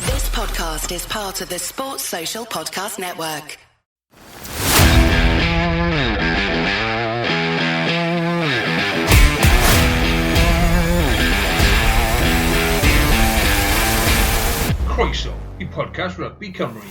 This podcast is part of the Sports Social Podcast Network. Croeso i podcast Rugby Cymru.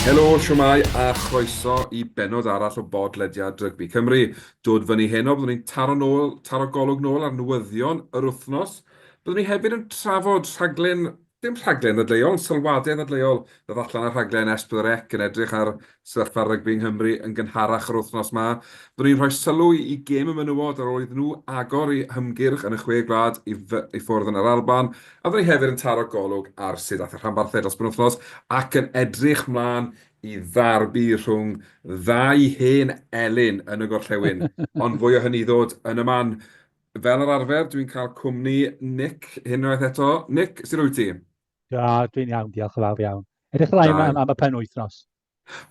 Helo, siwmai a chroeso i benod arall o bodlediad Rygbi Cymru. Dod fyny heno, byddwn ni'n taro nôl, taro golwg nôl ar newyddion yr wythnos. Byddwn ni hefyd yn trafod rhaglen, dim rhaglen ddadleuol, ond sylwadau ddadleuol ddodd allan ar rhaglen S4C yn edrych ar sefyllfa rygbi yng Nghymru yn gynharach yr wythnos 'ma. Byddwn ni'n rhoi sylw i gêm y menywod ar ôl iddyn nhw agor eu hymgyrch yn y Chwe Gwlad i i ffwrdd yn Yr Alban, a byddwn ni hefyd yn taro golwg ar sut aeth y rhanbarthau dros y penwythnos ac yn edrych 'mlaen i ddarbu rhwng ddau hen elyn yn y gorllewin, ond fwy o hynny i ddod yn y man. Fel yr arfer, dwi'n cael cwmni Nick unwaith eto. Nick, sut wyt ti? Da, dwi'n iawn, diolch yn fawr iawn. Edrych ymlaen am, am y pen wythnos.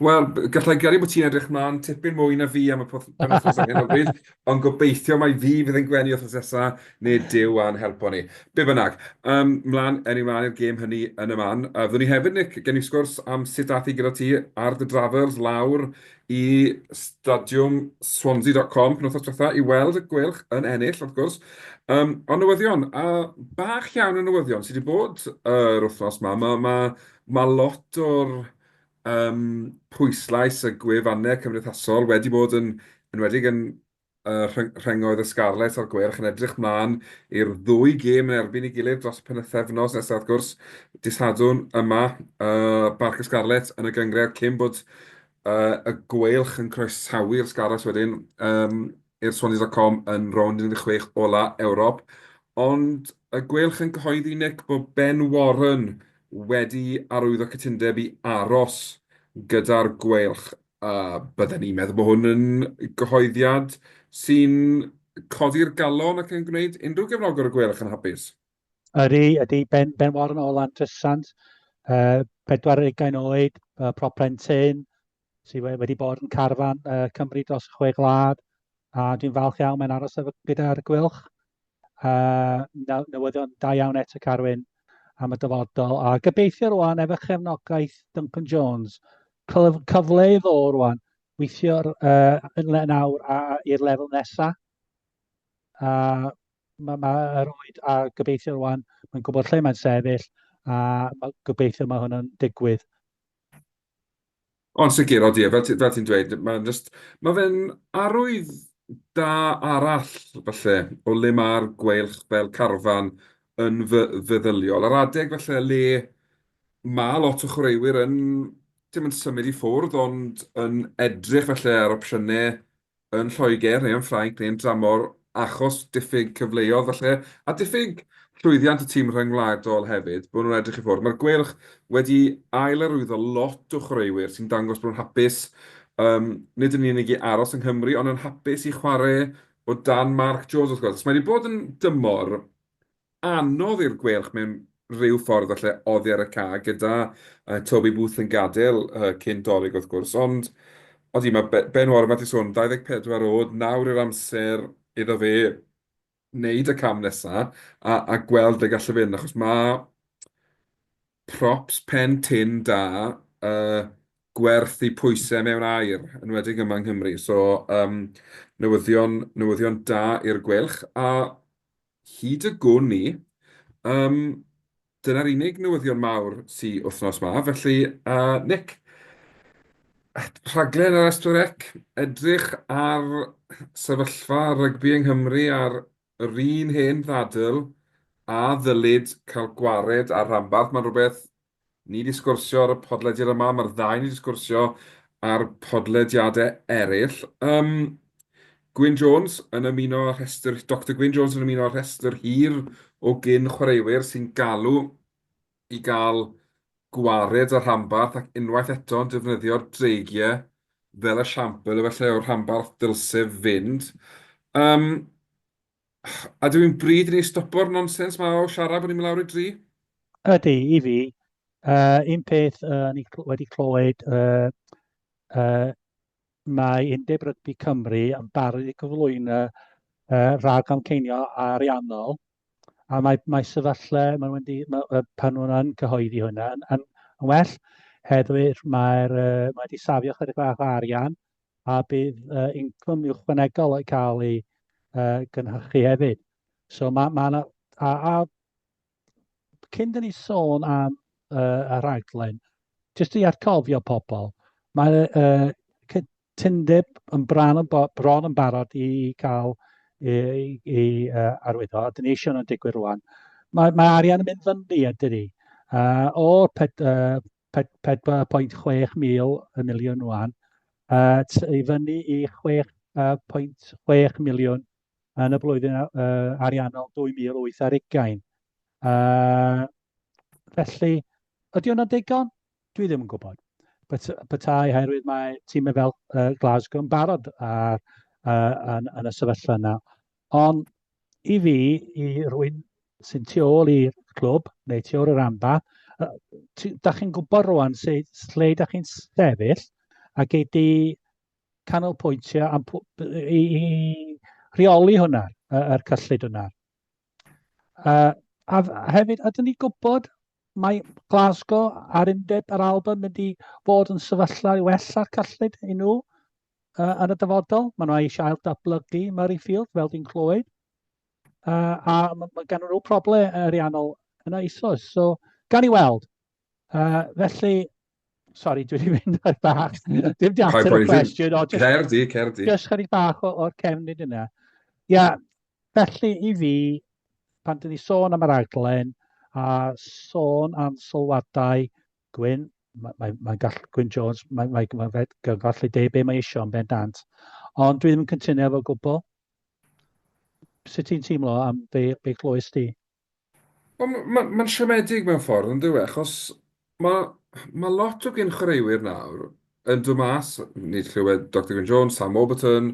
Wel, gallai gario bod ti'n edrych mlaen tipyn mwy na fi am y wythnos ar hyn o bryd. Ond gobeithio mai fi fydd yn gwenu wythnos nesa, neu Duw a'n helpo ni. Be bynnag, ym mlaen, ewn ni mlaen i'r gêm hynny yn y man. A fyddwn ni hefyd, Nick, gen i sgwrs am sut ath hi gyda ti ar dy drafferth lawr i stadiwm Swansea.com penwythnos diwetha i weld y Gweilch yn ennill, wrth gwrs. Ym, ond newyddion, a bach iawn o newyddion sydd wedi bod yr wythnos ma. Ma, ma, ma lot o'r Yym, pwyslais y gwefannau cymdeithasol wedi bod yn enwedig yn rhengoedd y Scarlets a'r Gweilch yn edrych mlaen i'r ddwy gêm yn erbyn ei gilydd dros y penwythefnos nesaf wrth gwrs, dydd Sadwrn yma, Barc y Scarlets yn y gynghrair cyn bod y Gweilch yn croesawu'r Scarlets wedyn i'r Swans dot com yn rownd 16 ola Ewrop, ond y Gweilch yn cyhoeddi, Nick, bod Ben Warren wedi arwyddo cytundeb i aros gyda'r Gweilch. Bydden ni'n meddwl bod hwn yn gyhoeddiad sy'n codi'r galon ac yn gwneud unrhyw gefnogwr y Gweilch yn hapus. Ydy, ydy. Ben, ben Warren o Landrysant, uh, 40 oed, uh, proper yn tyn, sy wedi bod yn carfan uh, Cymru dros chwe glad, a dwi'n falch iawn mae'n aros efo gyda'r gwylch. Uh, newyddion da iawn eto Carwyn am y dyfodol, a gobeithio rwan efo chefnogaeth Duncan Jones, cyfle i ddo rwan, weithio'r uh, yn le nawr i'r lefel nesaf. A mae ma yr oed a gobeithio rwan, mae'n gwybod lle mae'n sefyll, a ma, gobeithio mae hwn yn digwydd. Yn sicr, odi. Fel ti fel ti'n dweud, mae'n jyst... mae fe'n arwydd da arall, falle, o le mae'r gweilch fel carfan yn fe- feddyliol. Yr adeg, falle, le mae lot o chwaraewyr yn, dim yn symud i ffwrdd, ond yn edrych, falle, ar opsiynau yn Lloegr neu yn Ffrainc neu'n dramor achos diffyg cyfleodd falle, a diffyg llwyddiant y tîm rhyngwladol hefyd, bod nhw'n edrych i ffwrdd. Mae'r Gweilch wedi ail-arwyddo lot o chwaraewyr sy'n dangos bod nhw'n hapus, um, nid yn unig i aros yng Nghymru, ond yn hapus i chwarae o dan Mark Jones wrth gwrs. Mae wedi bod yn dymor anodd i'r Gweilch mewn rhyw ffordd falle oddi ar y ca, gyda uh, Toby Booth yn gadael uh, cyn dolyg wrth gwrs, ond odi mae Ben Warren wedi sôn 24 oed, nawr i'r amser iddo fe wneud y cam nesaf a, a gweld ble gallu fynd, achos mae props pen tin da uh, gwerth i pwysau mewn air, yn wedi yma yng Nghymru. So, um, newyddion, newyddion da i'r gwelch, a Hyd y gwn ni. Yym, dyna'r unig newyddion mawr sy wythnos 'ma. Felly, Nick, rhaglen ar S4C, edrych ar sefyllfa rygbi yng Nghymru ar yr un hen ddadl, a ddylid cael gwared â'r rhanbarth? Mae'n rhywbeth Ni 'di sgwrsio ar y podlediad yma, mae'r ddau ni 'di sgwrsio ar podlediadau eraill. Um, Gwyn Jones yn ymuno â'r rhestr, Dr Gwyn Jones yn ymuno â'r rhestr hir o gyn chwaraewyr sy'n galw i gael gwared ar rhanbarth ac unwaith eto'n defnyddio'r dreigiau fel y siampl efallai o'r rhanbarth dylsef fynd. Um, A dw i'n bryd i ni stopo'r nonsens ma o siarad bod ni'n mynd lawr i dri? Ydy, i fi. Uh, un peth uh, ni wedi clywed, uh, uh, mae Undeb Rygbi Cymru yn barod i gyflwyno uh, rhag amceinio ariannol, a mae, mae sefyllfa, mae wedi, mae, pan nhw'n cyhoeddi hwnna, yn, yn, yn well, heddwyr mae'r, uh, mae wedi safio chydig bach o arian, a bydd uh, incwm ychwanegol yn cael ei uh, gynhyrchu hefyd. So mae, ma yna, a, a cyn dyn ni sôn am uh, y rhaglen, jyst i atgofio pobl, mae uh, cytundeb yn bron yn, bron yn barod i cael i, i, i uh, arwyddo, a dyn ni eisiau nhw'n digwydd rwan. Mae, mae arian yn mynd fyny, a dyn ni. Uh, o'r uh, 4.6 mil y miliwn wan, at ei fyny i 6.6 miliwn yn y blwyddyn ariannol 2008 ar ugain. Felly, ydy hwnna'n ddigon? Dwi ddim yn gwybod. Petai, oherwydd mae tîmau fel Glasgow yn barod yn y sefyllfa yna, Ond i fi, i rwy'n sy'n tu ôl i'r clwb, neu tu ôl i'r amba, da chi'n gwybod rwan lle, lle da chi'n sefyll a gei di canolbwyntio am, i, i rheoli hwnna, yr cyllid hwnna. Uh, a hefyd, ydyn ni gwybod mae Glasgow a'r undeb a'r Alban mynd i fod yn sefyllfa i wella'r cyllid i nhw? uh, yn y dyfodol. Maen nhw eisiau ail datblygu Murrayfield, fel di'n clywed. Uh, a mae ma gan nhw problem ariannol yn eisoes. So, gan i weld. Uh, felly, sorry, dwi wedi mynd ar bach. Dim di ateb y cwestiwn. Cerdi, cerdi. Just chydig bach o'r cefn nid yna. Ia, felly i fi, pan dyn ni sôn am yr aglen a sôn am sylwadau Gwyn, mae'n mae, mae gall, Gwyn Jones, mae'n mae, mae, mae fe gallu deud be mae eisiau yn bendant. Ond dwi ddim yn cytuno efo gwbl. Sut ti'n teimlo am be, be chlywys di? Mae'n ma, ma siomedig mewn ffordd yn dywe, achos mae ma lot o gyn chwaraewyr nawr yn dod mas, nid chlywed Dr Gwyn Jones, Sam Warburton,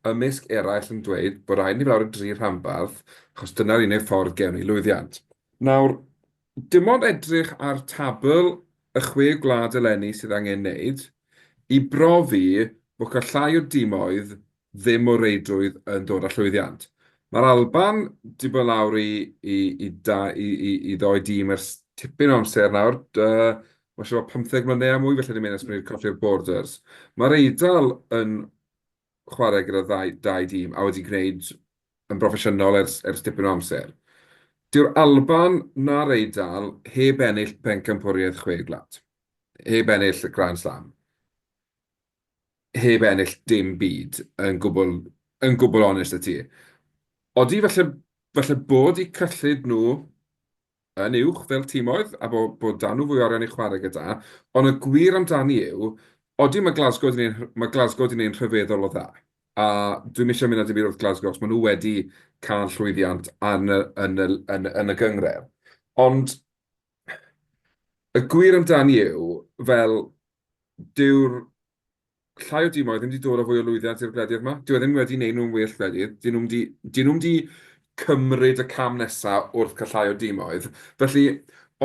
ymysg eraill yn dweud bod rhaid ni fawr y dri rhanbarth, achos dyna'r unig ffordd gewn ni lwyddiant. Nawr, Dim ond edrych ar tabl y chwe gwlad eleni sydd angen neud i brofi bod cael llai o dimoedd ddim o reidrwydd yn dod â llwyddiant. Mae'r Alban 'di bod lawr i i ddoe dîm ers tipyn o amser nawr, ma' siŵr bod pymtheg mlynedd a mwy felly ni'n mynd ers bod ni 'di colli'r Borders. Mae'r Eidal yn chwarae gyda ddau, dau dîm a wedi gwneud yn broffesiynol ers, ers dipyn o amser. Dyw'r Alban na'r Eidal heb ennill pencampwriaeth chwe gwlad. Heb ennill y Grand Slam. Heb ennill dim byd yn gwbl, yn gwbl onest y ti. Odi falle, falle bod i cyllid nhw yn uwch fel timoedd a bod bod 'da nhw fwy o arian i chwarae gyda, ond y gwir amdani yw, odi mae Glasgow 'di neud mae Glasgow 'di neu'n rhyfeddol o dda, a dwi'm isie mynd a dim byd wrth Glasgow achos maen nhw wedi cael llwyddiant yn y yn y yn y yn y gynghrair, ond y gwir amdani yw, fel, dyw'r llai o dîmau ddim wedi dod â fwy o lwyddiant i'r gwledydd 'ma. Dyw e ddim wedi neud nhw'n well gwledydd. Dyn nhw'm di, dyn nhw'm di cymryd y cam nesa wrth cael llai o dîmoedd. Felly,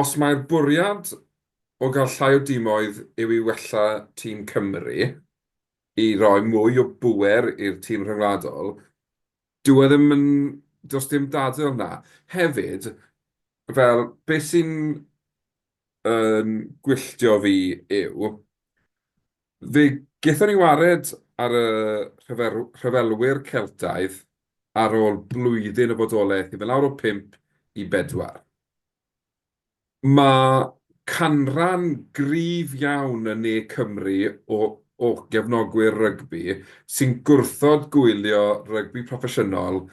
os mai'r bwriad o gael llai o dîmoedd yw i wella tîm Cymru, i roi mwy o bŵer i'r tîm rhyngwladol, dyw e ddim yn, does dim dadl 'na. Hefyd, fel, beth sy'n yn gwylltio fi yw, fe gaethon ni wared ar y rhyfelwyr Celtaidd ar ôl blwyddyn o fodolaeth i fynd lawr o pump i bedwar. Mae canran gryf iawn yn ne Cymru o gefnogwyr rygbi sy'n gwrthod gwylio rygbi proffesiynol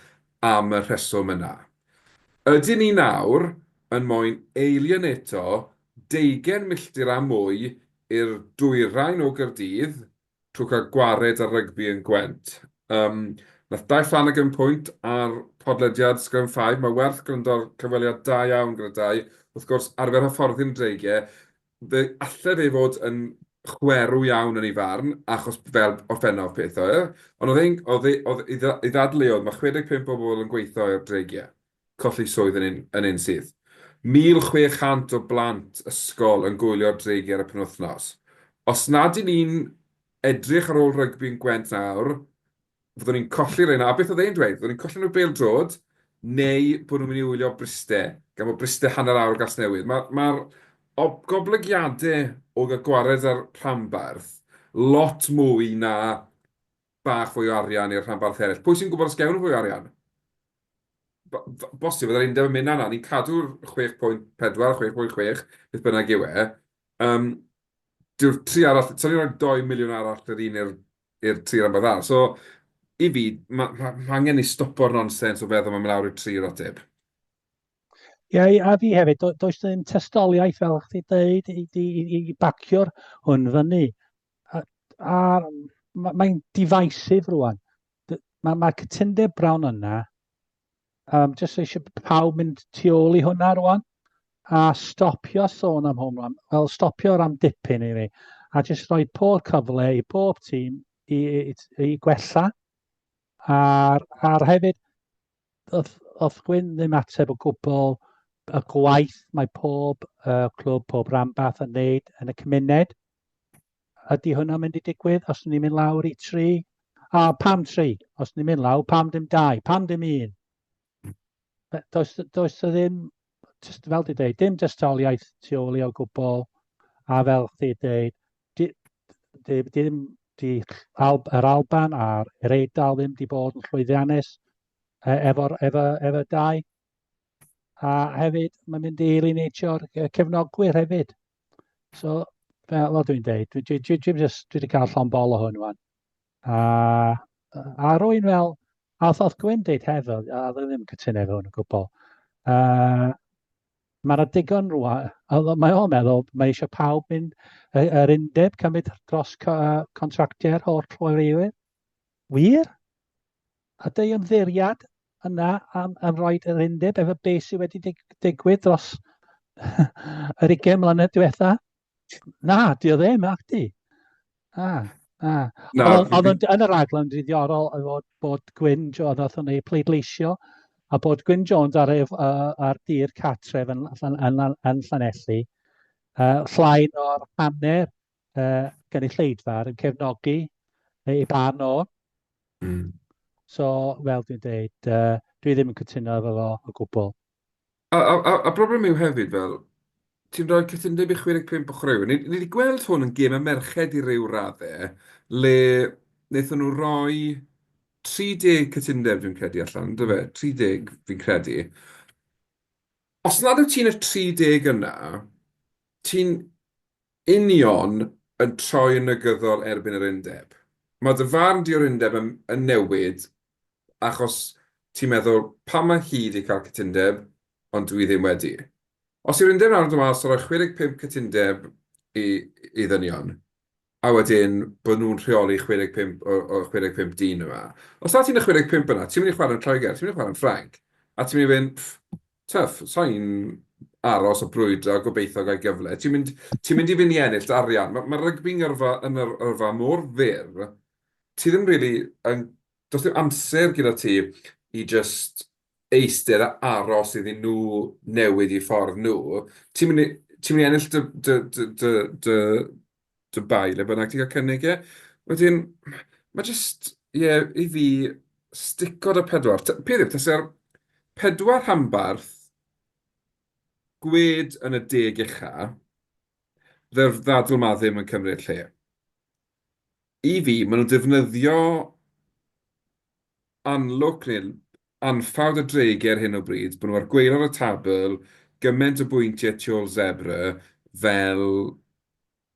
am y rheswm yna. Ydyn ni nawr yn moyn eilioneto deugen milltir a mwy i'r dwyrain o Gaerdydd trwy cael gwared ar rygbi yn Gwent? Yym, nath Dai Flanagan pwynt ar podlediad Scrum Five, mae werth gwrando ar cyfweliad da iawn gyda Dai, wrth gwrs, arfer hyfforddi'n dreige, Fe alle fe fod yn chwerw iawn yn ei farn, achos fel orffennaf peth oedd e, ond oedd e'n, oedd e, oedd ei, ei ddadleuodd, mae 65 o bobl yn gweithio i'r Dreigiau, colli swydd yn un, yn un sydd. 1,600 o blant ysgol yn gwylio'r Dreigiau ar y penwythnos. Os nad 'yn ni'n edrych ar ôl rygbi'n Gwent nawr, fyddwn ni'n colli rheina, a beth oedd e'n dweud? Fyddwn ni'n colli nhw bel drod, neu bod nhw'n mynd i wylio Bryste, gan bod Bryste hanner awr o Gasnewydd. Mae'r ma goblygiadau o gael gwared ar rhanbarth lot mwy na bach fwy o arian neu'r rhanbarth eraill. Pwy sy'n gwybod os gewn nhw fwy o arian? Bosib, oedd yr undeb yn mynd yna, ni'n cadw'r 6.4, 6.6, beth bynnag yw e. Um, dyw'r tri arall, so ni'n rhoi 2 miliwn arall yr un i'r i'r tir am foddhad. So, i fi, mae ma, ma angen ni stopo'r nonsens o feddwl mae mynd lawr i'r tri o'r ateb. Ie, yeah, a fi hefyd, do, does ddim testoliaeth fel chdi dweud i, i, i, i bacio'r hwn fyny. A, a mae'n ma divisive rwan. Mae ma cytundeb brawn yna, Um, just eisiau pawb mynd tu ôl i hwnna rwan a stopio sôn am home run. Wel, stopio ar am dipyn i ni. A jyst rhoi pob cyfle i bob tîm i, i, i gwella. A'r, ar hefyd, oedd, oedd Gwyn ddim ateb o gwbl y gwaith mae pob uh, clwb, pob ranbarth yn neud yn y cymuned. Ydy hwnna'n mynd i digwydd os ni'n mynd lawr i tri? A, pam tri? Os ni'n mynd lawr, pam dim dau? Pam dim un? Does, does y ddim, just, fel di dweud, dim dystoliaeth tu ôl i o gwbl, a fel di dweud, di, di, di, di Al, yr Alban a'r er Eidal ddim di bod yn llwyddiannus e, efo'r efo, efo dau. A hefyd, mae'n mynd i elineitio'r cefnogwyr hefyd. So, fel fel dwi'n deud, dwi dwi dwi dwi jyst dwi 'di cael llond bol o hwn ŵan. A yy a rwy'n fel a wrth wrth Gwyn deud hefo a oedd e ddim yn cytuno efo hwn o gwbl. Yy ma' 'na digon rŵan a wel mae o'n meddwl mae eisiau pawb mynd yy yr undeb cymryd dros co- yy contractiau'r holl chwaraewyr. Wir? A dy ymddeiriad yna am, am roi yr undeb efo be sydd wedi dig, digwydd dros yr 20 mlynedd diwetha? Na, di o ddim, ac di. Na, na. na oedd yn, yn y raglen ddiddorol oedd bod, bod Gwyn Jones, oedd yn ei pleidleisio, a bod Gwyn Jones ar, ef, uh, ar dir catref yn, yn, yn, yn Llanelli, uh, llain o'r hanner uh, gynulleidfa yn cefnogi ei barn o. Mm. So, fel dwi'n dweud, uh, dwi ddim yn cytuno efo fo o gwbl. A, a, a, a broblem yw hefyd, fel, ti'n rhoi cytundeb i 65 o chwaraewyr. Ni, ni wedi gweld hwn yn gêm y merched i ryw raddau, le wnaethon nhw roi 30 cytundeb, dwi'n credu allan, dy fe, 30 fi'n credu. Os nad wyt ti'n y 30 yna, ti'n Union yn troi yn negyddol erbyn yr undeb. Mae dy farn di o'r undeb yn newid achos ti'n meddwl 'pam mae hi 'di cael cytundeb ond dwi ddim wedi'. Os yw'r undeb nawr yn dod mas a rhoi 65 cytundeb i ddynion a wedyn bod nhw'n rheoli 65 o'r 65 dyn yma. Os na ti'n y 65 yna, ti'n mynd i chwarae yn Lloegr, ti'n mynd i chwarae yn Ffrainc a ti'n mynd i fynd 'ffff'. Twf, sai'n aros a brwydro a gobeithio gael gyfle. Ti'n mynd, ti'n mynd i fynd i ennill dy arian. Ma, ma rygbi'n yrfa, yn yr yrfa mor fyr, ti ddim rili yn, does dim amser gyda ti i jyst eistedd a aros iddyn nhw newid eu ffordd nhw. Ti'n mynd i, ti'n mynd i ennill dy, dy, dy, dy, dy, Dubai, le bynnag ti'n cael cynnig e. Wedyn, mae jyst, ie, i fi, stico 'da pedwar. Ta- Peth yw, tase'r pedwar rhanbarth gwed yn y deg ucha, dde'r ddadl 'ma ddim yn cymryd lle. I fi, maen nhw'n defnyddio anlwc neu anffawd y dreigiau ar hyn o bryd, bod nhw ar gwaelod y tabl, gymaint o bwyntiau tu ôl Zebre fel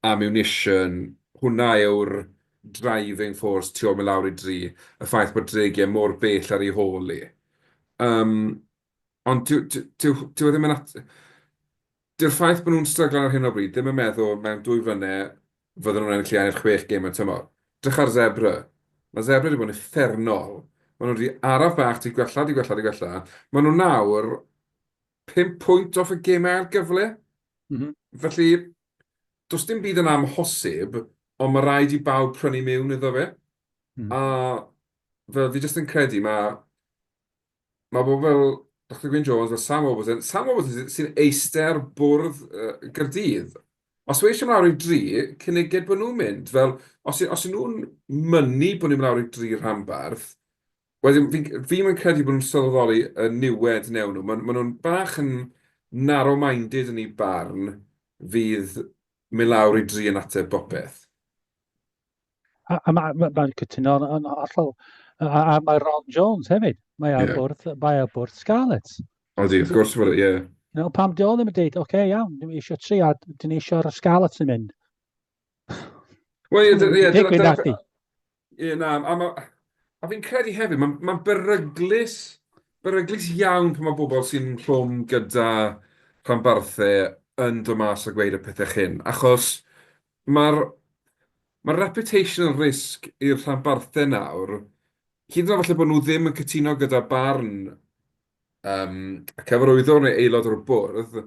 ammunition, hwnna yw'r driving force tu ôl mynd lawr i dri, y ffaith bod dreigiau mor bell ar ei hôl hi. Yym. Ond dyw e ddim yn at-... Dyw'r ffaith bod nhw'n stryglan ar hyn o bryd ddim yn meddwl mewn dwy flynedd fydden nhw'n ennill iau'r chwech gêm y tymor. Drych ar Zebre. Mae Zebre wedi bod yn uffernol. Maen nhw wedi araf bach tu gwella, tu gwella, tu gwella. Maen nhw nawr pum pwynt off y gemau ail gyfle. Mm-hm. Felly, does dim byd yn amhosib, ond mae rhaid i bawb prynu miwn iddo fe. Mm. A fel fi jyst yn credu, mae Mae pobl fel Doctor Gwyn Jones, fel Sam Warburton, Sam Warburton sy'n eistedd ar bwrdd uh, Gyrdydd. Os mae eisiau mynd lawr i dri, cyniged bod nhw'n mynd. Fel, os, os y'n nhw'n mynnu bod ni'n mynd lawr i dri rhanbarth, wedyn fi, fi mae'n credu bod nhw'n sylweddoli y niwed newn nhw. Maen ma nhw'n bach yn narrow-minded yn ei barn fydd mynd lawr i dri yn ateb bopeth. A, a mae'n ma, ma cytuno yn hollol. A, a mae Ron Jones hefyd. Mae ar yeah. bwrdd, mae ar bwrdd Scarlets. O di, wrth gwrs, ie. Yeah. No, pam di o ddim yn dweud, oce, okay, iawn, dyn ni eisiau tri a dyn ni eisiau'r Scarlets yn mynd. Wel, ie, ie, ie. Digwyd nati. Ie, na, a, ma, a fi'n credu hefyd, mae'n ma beryglus, beryglus iawn pan mae bobl sy'n rhwng gyda rhanbarthau yn dod mas a gweud y pethau chyn, achos Mae'r mae'r reputational risk i'r rhanbarthau nawr, hyd yn oed falle bod nhw ddim yn cytuno gyda barn um, y cyfarwyddwr neu aelod o'r bwrdd,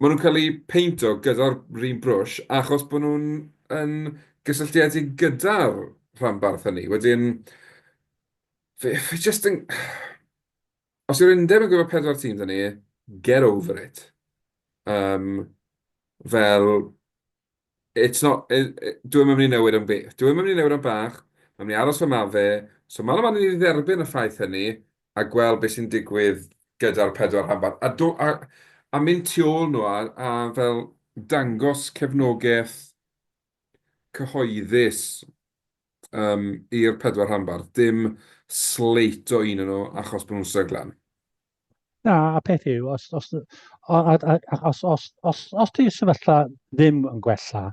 maen nhw'n cael eu peinto gyda'r run brwsh achos bod nhw'n yn gysylltiedig gyda'r rhanbarth hynny. Wedyn, fe, fe just yn... Os yw'r undeb yn gorfod pedwar tîm 'da ni, get over it. Yym, fel, it's not, dyw e ddim yn mynd i newid am beth. Dyw e ddim yn mynd i newid am bach, mae'n mynd i aros fel mae fe. So man a man i ni dderbyn y ffaith hynny a gweld beth sy'n digwydd gyda'r pedwar rhanbarth. A do- a a mynd tu ôl nhw a a fel dangos cefnogaeth cyhoeddus yym, i'r pedwar rhanbarth, dim sleito un o nhw achos bod nhw'n stryglan. Na, y peth yw, os, os, os, os, os, os ti sefyllfa ddim yn gwella,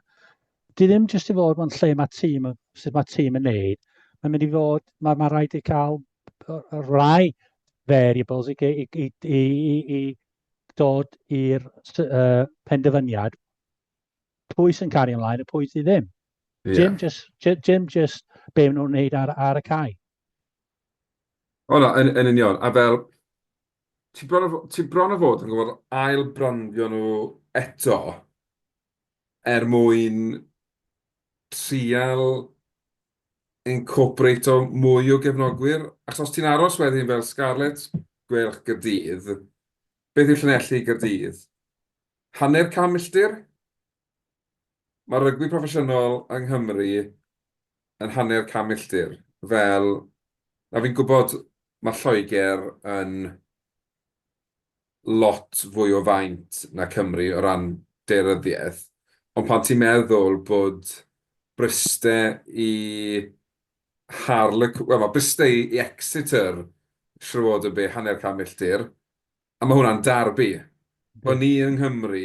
di ddim jyst i fod mewn lle mae tîm, sut mae tîm yn neud, mae'n mynd i fod, mae, mae rhaid i cael rhai variables i, i, i, i, i dod i'r uh, penderfyniad pwy sy'n cario ymlaen a pwy sydd ddim. Yeah. Dim just, dim just be maen nhw'n wneud ar, ar y cae. O na, yn, yn union. A fel, ti bron, o, ti bron o fod yn gwybod ail brandio nhw eto er mwyn trial incorporate o mwy o gefnogwyr. Ac os ti'n aros wedyn fel Scarlett, gwerch gydydd, beth yw'r llunelli gydydd? Hanner can milltir? Mae rygbi proffesiynol yng Nghymru yn hanner can milltir. Fel, a fi'n gwybod mae Lloegr yn lot fwy o faint na Cymru o ran daearyddiaeth, ond pan ti'n meddwl bod Bryste i Harlequ-, wel, mae Bryste i Exeter siŵr o fod yn be, hanner can milltir? A mae hwnna'n derby. Bod ni yng Nghymru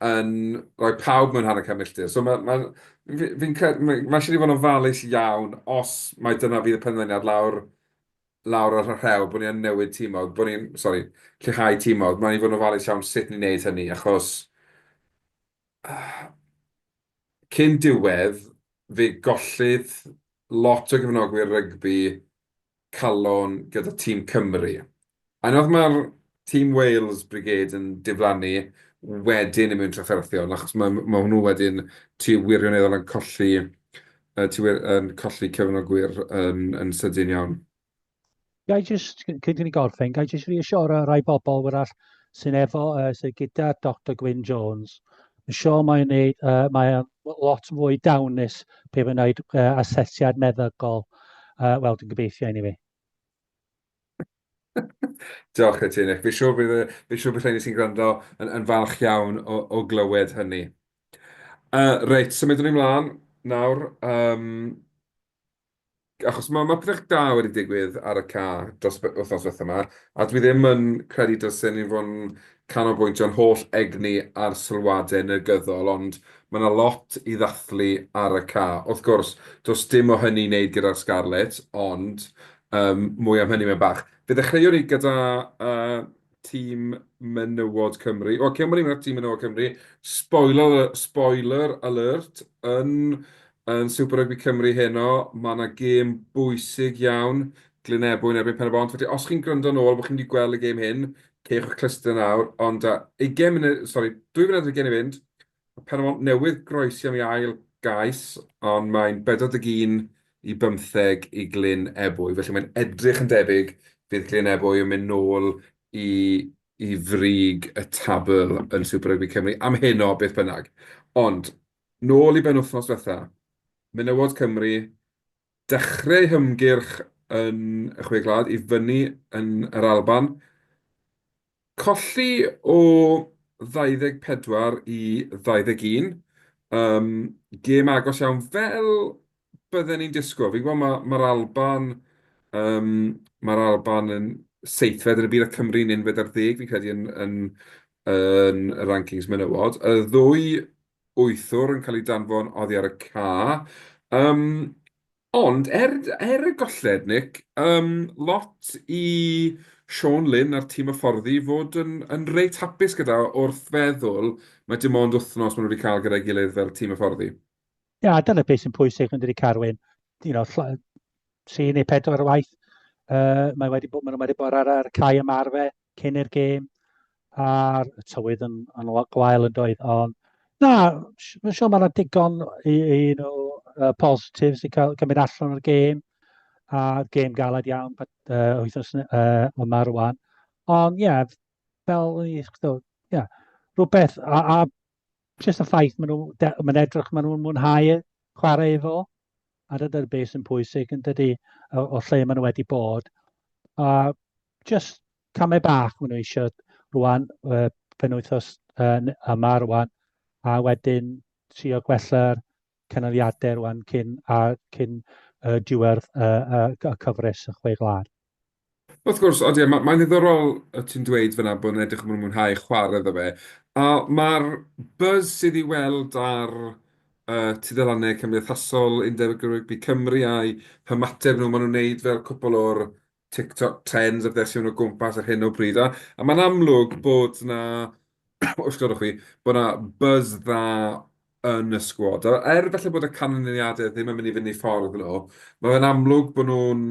yn rhoi pawb mewn hanner can milltir. So mae, mae, fi'n credu, mae, mae eisiau ni fod yn ofalus iawn os mae dyna fydd y penderfyniad lawr, lawr ar y rhew, bod ni yn newid tîmod, bod ni'n, sori, lleihau tîmod. Mae ni fod yn ofalus iawn sut ni'n neud hynny, achos cyn diwedd fe gollydd lot o gefnogwyr rygbi calon gyda tîm Cymru. A nawr mae'r tîm Wales Brigade yn diflannu wedyn yn mynd trafferthion, achos mae hwnnw wedyn, ti wirioneddol yn colli, ti wir yn colli cefnogwyr yn sydyn iawn. Ga i jyst, cyn i ni gorffen, ga i jyst reassure rai bobl wrach sy'n efo, sydd gyda Doctor Gwyn Jones, Yn siôl mae'n wneud, uh, mae'n lot fwy dawnus pe mae'n wneud uh, asesiad meddygol. Uh, Wel, dwi'n gobeithio anyway. Diolch i ti, Nick. Fi siŵr bydd, fi siŵr bydd sy'n gwrando yn, yn falch iawn o, o glywed hynny. Uh, reit, symudwn so ni mlaen nawr. Um, Achos mae Matriarch Da wedi digwydd ar y ca dros y wythnos ddiwethaf 'ma, a dwi ddim yn credu dylsen ni fod yn canolbwyntio'n holl egni ar sylwadau negyddol, ond mae 'na lot i ddathlu ar y ca. Wrth gwrs, does dim o hynny i wneud gyda'r Scarlets, ond yym mwy am hynny mewn bach. Fe ddechreuwn i gyda yy Tîm Menywod Cymru. Wel, cyn bod ni'n mynd at Tîm Menywod Cymru, spoiler, spoiler alert, yn, yn Super Rugby Cymru heno, mae yna gêm bwysig iawn, Glynebwy yn erbyn Pen-y-bont. Felly, os chi'n gwrando yn ôl bod chi'n wedi gweld y gêm hyn, cewch eich clustiau nawr, ond uh, 20 munud, sori, 2 funud ar gen i fynd, Mae Penmont newydd groes iawn i ail gais, ond mae'n 41 i 15 i Glyn Ebwy, felly mae'n edrych yn debyg fydd Glyn Ebwy yn mynd nôl i i frig y tabl yn Super Rugby Cymru am heno, beth bynnag. Ond, nôl i benwythnos ddiwetha', menywod Cymru, dechreu eu hymgyrch yn y Chwe Gwlad i fyny yn yr Alban. Colli o 24 i 21. Yym, gêm agos iawn fel bydden ni'n disgwyl. Fi'n gweld ma' ma'r Alban yym ma'r Alban yn seithfed yn y byd a Cymru'n unfed ar ddeg fi'n credu yn yn yn y rankings menywod. Y ddwy wythwr yn cael ei danfon oddi ar y ca. Yym, ond er er y golled, Nick, yym, lot i Siôn Lyn a'r tîm hyfforddi fod yn yn reit hapus gyda wrth feddwl mai dim ond wythnos maen nhw wedi cael gyda'i gilydd fel tîm hyfforddi. Ie, a dyna beth sy'n pwysig yn dydi Carwyn? You know, lla- tri neu pedwar waith, yy, mae wedi bod, maen nhw wedi bod ar ar y cae ymarfer, cyn i'r gêm a'r tywydd yn, yn lot gwael yn doedd. Ond na, mae'n siŵr mae yna digon i, i you know, uh, positives i cael cymryd allan o'r gêm. A gêm galed iawn but, uh, wythnos uh, yma rwan. Ond ie, yeah, fel i yeah, rhywbeth a, a jyst y ffaith maen nhw, mae'n edrych maen nhw'n mwynhau e, chwarae efo, a dyna'r beth sy'n pwysig yn dydy o, o lle maen nhw wedi bod. A jyst camau bach maen nhw eisiau rwan, uh, penwythos uh, yma rwan, a wedyn trio gwella'r canoliadau rwan cyn, a cyn uh, diwedd uh, uh, y cyfres y chwe glad. Wrth gwrs, odi, ma' mae'n ddiddorol y ti'n dweud fan'na bod nhw'n edrych am bod nhw'n mwynhau chwarae iddo fe, a ma'r buzz sydd i'w weld ar yy tudalannau cymdeithasol Undeb Rygbi Cymru a'i hymateb nhw, maen nhw'n wneud fel cwpwl o'r TikTok trends a pethau sy o gwmpas ar hyn o bryd, a a mae'n amlwg bod 'na, os gwelwch chi, bod 'na buzz dda yn y sgwad. A er falle bod y canlyniadau ddim yn mynd i fynd eu ffordd nhw, mae fe'n amlwg bod nhw'n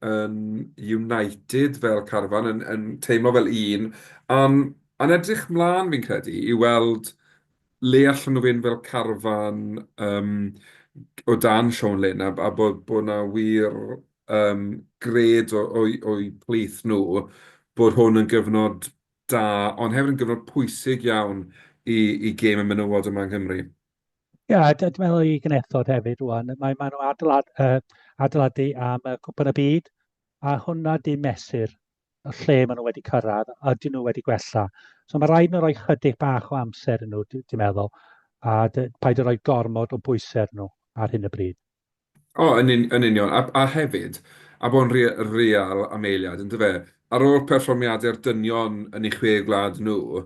yn united fel carfan, yn yn teimlo fel un, a'n a'n edrych mlaen fi'n credu i weld le allan nhw fynd fel carfan yym g- o dan Siôn Lyn, a a bod bod 'na wir yym gred o o'u o'u plith nhw bod hwn yn gyfnod da, ond hefyd yn gyfnod pwysig iawn i, i gêm y menywod yma yng Nghymru. Ia, yeah, dwi'n meddwl i Gnethod hefyd rwan. Mae, mae nhw adeilad, uh, adeiladu am uh, Cwpan y Byd, a hwnna di mesur y lle maen nhw wedi cyrraedd, a dyn nhw wedi gwella. So mae rhaid nhw roi chydig bach o amser yn nhw, dwi'n meddwl, a paid o roi gormod o bwysau nhw ar hyn y bryd. O, yn un- yn union. A a hefyd, a bod yn rea- real am eiliad, yn dyfe, ar ôl perfformiadau'r dynion yn eu chwe gwlad nhw,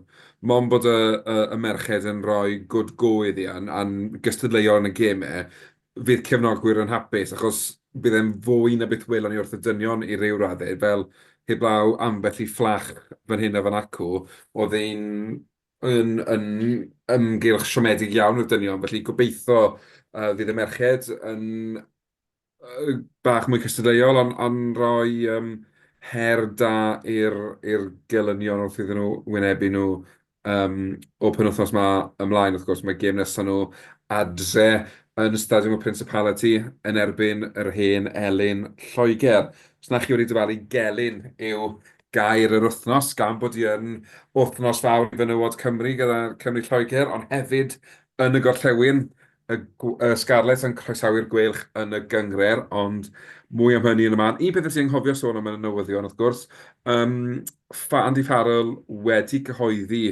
mond bod y y y merched yn rhoi good go iddi a'n a'n gystadleuol yn y gemau, fydd cefnogwyr yn hapus, achos bydd e'n fwy na beth welon ni wrth y dynion i ryw raddau, fel heblaw ambell i fflach fan hyn a fan acw, oedd ein yn yn ymgylch siomedig iawn o'r dynion, felly gobeitho yy fydd y merched yn yy bach mwy cystadleuol, ond ond rhoi yym her da i'r i'r gelynion wrth iddyn nhw wynebu nhw yym o'r penwythnos 'ma ymlaen wrth gwrs. Mae gêm nesa' nhw adre yn y Stadiwm y Principality yn erbyn yr hen elyn Lloegr. Os na chi wedi dyfalu gelyn yw gair yr wythnos gan bod hi yn wythnos fawr i fenywod Cymru gyda Cymru-Lloegr ond hefyd yn y gorllewin, y y Scarlets yn croesawu'r Gweilch yn y gynghrair ond mwy am hynny yn y man. Un peth nes i anghofio sôn am yn y newyddion wrth gwrs yym ffa- Andy Farrell wedi cyhoeddi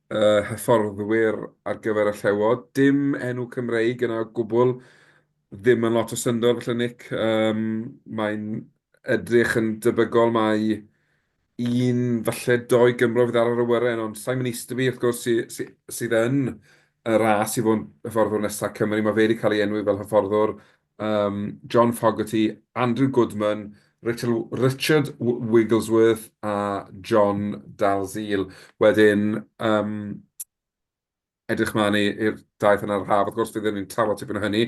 y hyfforddwyr ar gyfer y Llewod, dim enw Cymreig yna o gwbl Ddim yn lot o syndod falle Nick, yym mae'n edrych yn debygol mai un falle dou Gymro fydd ar yr awyren ond Simon Easterby wrth gwrs sy- sy- sydd yn y ras i fod yn hyfforddwr nesa' Cymru, ma' fe 'di ca'l ei enwi fel hyfforddwr, yym John Fogarty, Andrew Goodman, Richard Wi- Richard Wi- Wigglesworth a John Dalziel. Wedyn yym Edrych mlaen i'r daith yna ar yr haf, wrth gwrs, fe fyddwn ni'n trafod tipyn o hynny,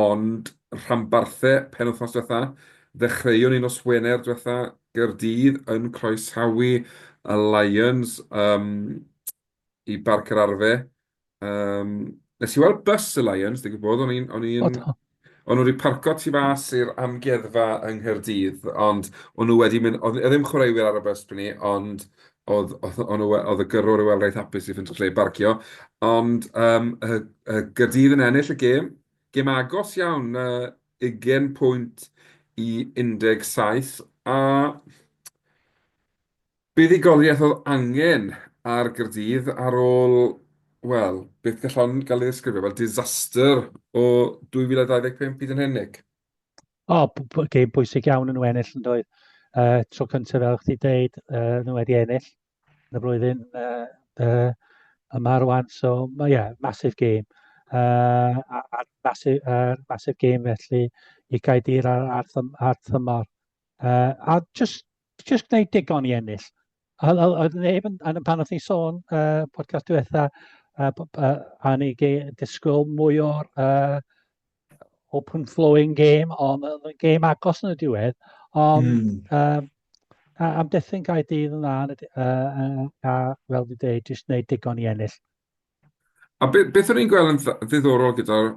ond rhanbarthe penwythnos diwetha', ddechreuon ni nos Wener diwetha', Gaerdydd yn croesawu y Lions yym i Barc yr Arfe. Yym, nes i weld bws y Lions, digwydd bod, o'n i'n o'n i'n... O do? O'n nhw wedi parcio tu fas i'r amgueddfa yng Nghaerdydd, ond o'n nhw wedi mynd... oedd ddim chwaraewyr ar y bws pryd 'ny, ond oedd o'n nhw... oedd y gyrrwr i weld reit hapus i ffeindio lle i barcio. Ond yym yy yy Gaerdydd yn ennill y gêm, gêm agos iawn, yy ugain pwynt i 17 a Buddugoliaeth oedd angen ar Gaerdydd ar ôl, wel, beth gallwn gael ei ddisgrifio fel disaster o 2025 hyd yn hyn, Nick? O, gêm bwysig iawn yn ennill yn doedd. Uh, tro cyntaf fel chdi dweud, uh, nhw wedi ennill yn y flwyddyn uh, uh, yma rwan, so mae yeah, masif gêm. Uh, a, a masif, uh, masif gêm felly i Gaedir ar, ar, ar thymor. Uh, a just jyst gwneud digon i ennill. Oedd neb yn, pan oedd ni sôn uh, podcast diwetha, uh, uh, a ni disgwyl mwy o'r uh, open flowing game, ond uh, game agos yn y diwedd, ond mm. um, am dethyn gael dydd yn dda, uh, uh, a fel di dweud, jyst gwneud digon i ennill. A be- beth o'n i'n gweld yn dd- ddiddorol gyda'r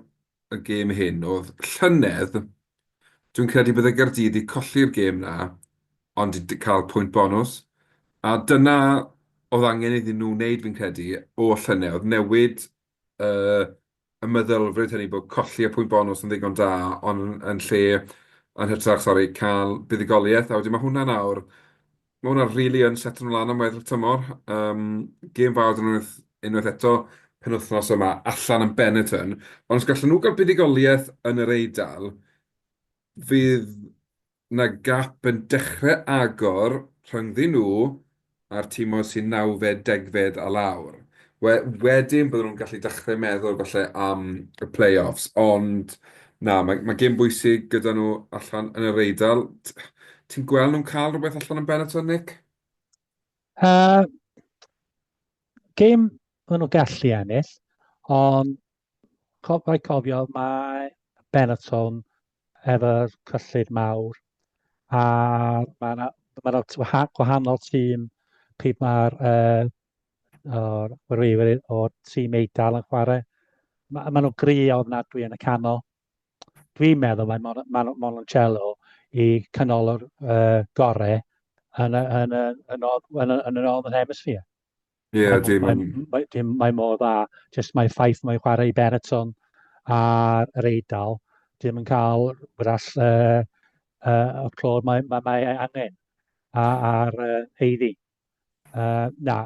y gêm hyn oedd llynedd, dwi'n credu bydde Gaerdydd 'di colli'r gêm 'na ond 'di cael pwynt bonws, a dyna oedd angen iddyn nhw wneud fi'n credu oll llynedd, oedd newid yy y meddylfryd hynny bod colli y pwynt bonws yn ddigon da, ond yn lle, yn hytrach, sori, cael buddugoliaeth, a wedyn ma' hwnna nawr Mae hwnna rili yn setio'n lân am weddill y tymor. Yym, gêm fawr 'da nhw unwaith, unwaith eto penwythnos yma, allan yn Benetton. Ond os gallen nhw gael buddugoliaeth yn yr Eidal, fydd 'na gap yn dechrau agor rhyngddyn nhw a'r tîmoedd sy'n nawfed, degfed a lawr. We- wedyn bydden nhw'n gallu dechrau meddwl falle am y play-offs, ond na, mae, mae gêm bwysig gyda nhw allan yn yr Eidal. T- Ti'n gweld nhw'n cael rhywbeth allan yn Benetton, Nick? Uh, Gêm maen nhw gallu ennill, ond co- rhaid cofio mae Benetton efo'r cyllid mawr a mae yna ma gwahanol tîm pryd mae'r uh, o'r chwaraewyr o'r tîm Eidal yn chwarae. Ma, maen nhw'n gri ofnadwy yn y canol. Dwi'n meddwl mae Mon, Mon, Mononcello i canol o'r uh, gorau yn y, yn y, yn y, yn y, yn y Northern Hemisphere. Ie, yeah, dim... Mae, mae, mae, mae mor dda, jyst mae ffaith mae'n chwarae i Bereton ar yr Eidal, dim yn cael wrall uh, uh, o'r clod mae, mae, mae angen ar uh, heiddi. Uh, na.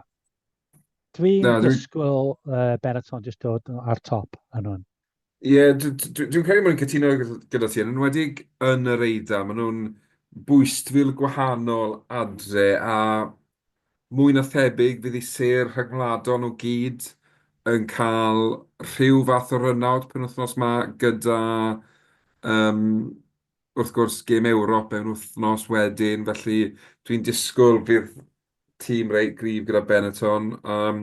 Dwi'n dwi... disgwyl uh, Benetton jyst dod ar top yn hwn. Ie, yeah, dwi'n dwi, dwi credu mae'n cytuno gyda ti, yn enwedig yn yr eida, maen nhw'n bwystfil gwahanol adre a mwy na thebyg fydd ei ser rhagwladol o gyd yn cael rhyw fath o rynawd penwythnos yma gyda um, wrth gwrs, gêm Ewrop mewn wythnos wedyn, felly dwi'n disgwyl bydd tîm reit gryf gyda Benetton. Um,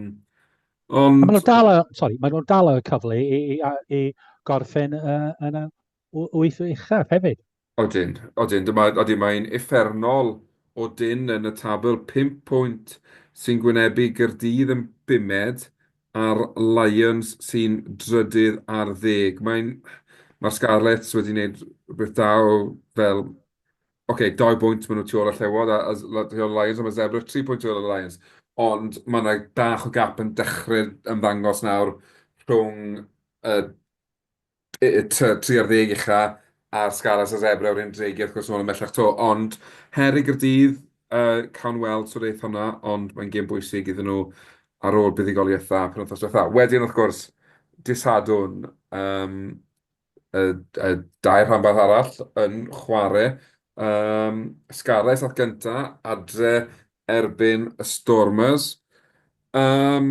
ond... Maen nhw'n dal, sorry, maen nhw'n dal y cyfle i, i, i gorffen uh, yn y wyth uchaf hefyd. Odyn, odyn, dyma, odyn, mae'n effernol o dyn yn y tabl, 5 pwynt sy'n gwynebu Gyrdydd yn bumed, a'r Lions sy'n drydydd ar ddeg. Mae'n... Mae'r Scarlets wedi wneud rhywbeth da o fel... Ok, dau bwynt maen nhw tu ôl y Llewod a a tu ôl y Lions a mae Zebre tri pwynt tu ôl y Lions. Ond mae 'na bach o gap yn dechrau ymddangos nawr rhwng y tri ar ddeg ucha ar sgala Sir Zebra yw'r un dreigiau wrth gwrs nôl ymhellach 'to ond her i Gaerdydd yy cawn weld sut eith hwnna ond mae'n gêm bwysig iddyn nhw ar ôl buddugoliaethau penwythnos diwetha'. Wedyn wrth gwrs dydd Sadwrn yym y y dau rhanbarth arall yn chware yym Scarlets at gynta adre erbyn y Stormers. Yym,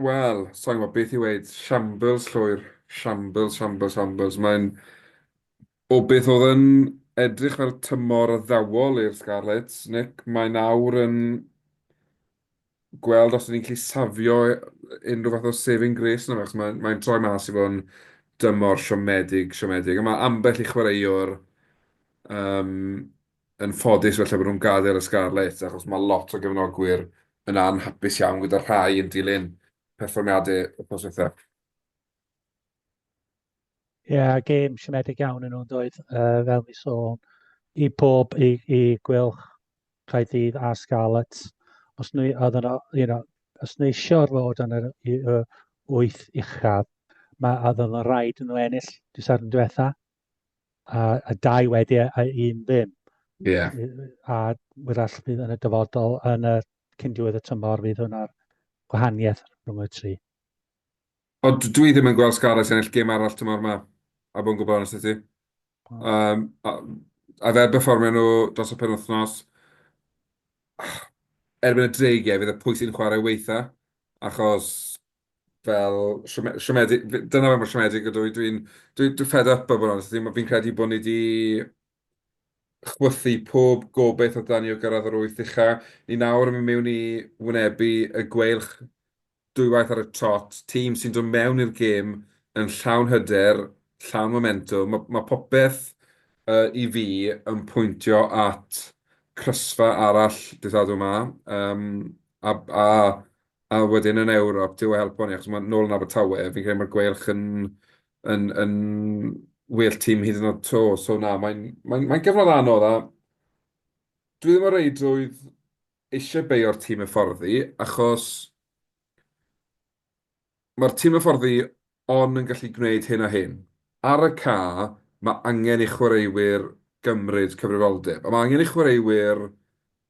wel, sa i'n gwybod beth i weud. Shambles, llwyr. Shambles, shambles, shambles. Mae'n... O beth oedd yn edrych fel tymor addawol i'r Scarlets, Nick, mae nawr yn gweld os 'y ni'n gallu safio unrhyw fath o saving grace ynddo fe, achos mae mae'n troi mas i fod yn dymor siomedig, siomedig. A mae ambell i chwaraewr yym... yn ffodus falle bod nhw'n gadael y Scarlets achos mae lot o gefnogwyr yn anhapus iawn gyda rhai yn dilyn perfformiadau y pos eitha. Ie, yeah, gêm siomedig iawn yn nhw'n doedd, uh, fel mi sôn, i bob, i, i gwylch Caethydd a Scarlets. Os nhw, oedd yno, you know, os nhw eisiau'r fod yn yr uh, wyth uchaf, mae oedd yno rhaid yn nhw ennill diwrnod yn diwetha. a, a dau wedi a un ddim. Yeah. A wrach fydd yn y dyfodol yn y cyn diwedd y tymor fydd hwnna'r gwahaniaeth rhwng y tri. Ond dwi ddim yn gweld Scarlets ennill gêm arall tymor yma, a bod yn gwybod onest ti. Um, a, a fel performio nhw dros y penwthnos, erbyn y dreigiau fydd y pwysyn chwarae weitha, achos fel siome- siomedig, f- dyna fel mae siomedig ydw i, dwi'n dwi, dwi fed up o bod yn onest, dwi'n- fi'n credu bod ni wedi chwythu pob gobeith o dan ni o gyrraedd yr wyth ucha. Ni nawr yn mynd mewn i wynebu y gweilch dwywaith ar y trot, tîm sy'n dod mewn i'r gêm yn llawn hyder, llawn momentwm, mae ma' popeth uh, i fi yn pwyntio at crysfa arall dydd Sadwrn yma, um, a, a A wedyn yn Ewrop, Duw a helpo ni, achos mae nôl yn Abertawe, fi'n credu mae'r gweilch yn yn yn well team hyd yn oed 'to, so na, mae'n mae'n mae'n gyfnod anodd a dwi ddim o reidrwydd eisiau beio'r tîm hyfforddi, achos mae'r tîm hyfforddi ond yn gallu gwneud hyn a hyn. Ar y ca, mae angen i chwaraewyr gymryd cyfrifoldeb, a mae angen i chwaraewyr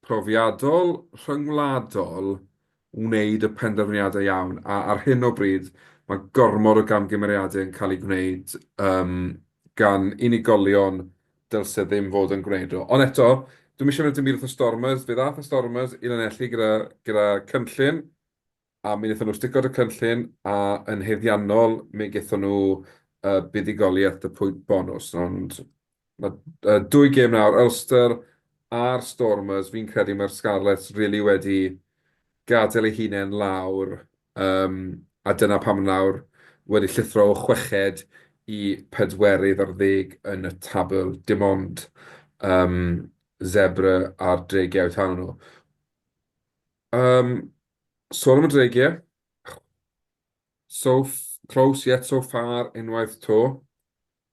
profiadol, rhyngwladol, wneud y penderfyniadau iawn, a ar hyn o bryd, mae gormod o gamgymeriadau yn cael eu gwneud yym gan unigolion dylse ddim fod yn gwneud nhw. Ond eto, dwi'm eisiau mynd at y mur fatha Stormers, fe ddaeth y Stormers i Lanelli gyda gyda cynllun, A mi wnaethon nhw sticod y cynllun, a yn haeddiannol, mi gaethon nhw yy buddugoliaeth y pwynt bonws. Ond ma' yy dwy gêm nawr, Ulster a'r Stormers, fi'n credu mae'r Scarlets rili wedi gadael eu hunain lawr, yym a dyna pam nawr wedi llithro o chweched i pedwerydd ar ddeg yn y tabl, dim ond yym Zebre a'r Dreigiau taw nhw. Yym, sôn am y dreigiau. So close yet so far unwaith to.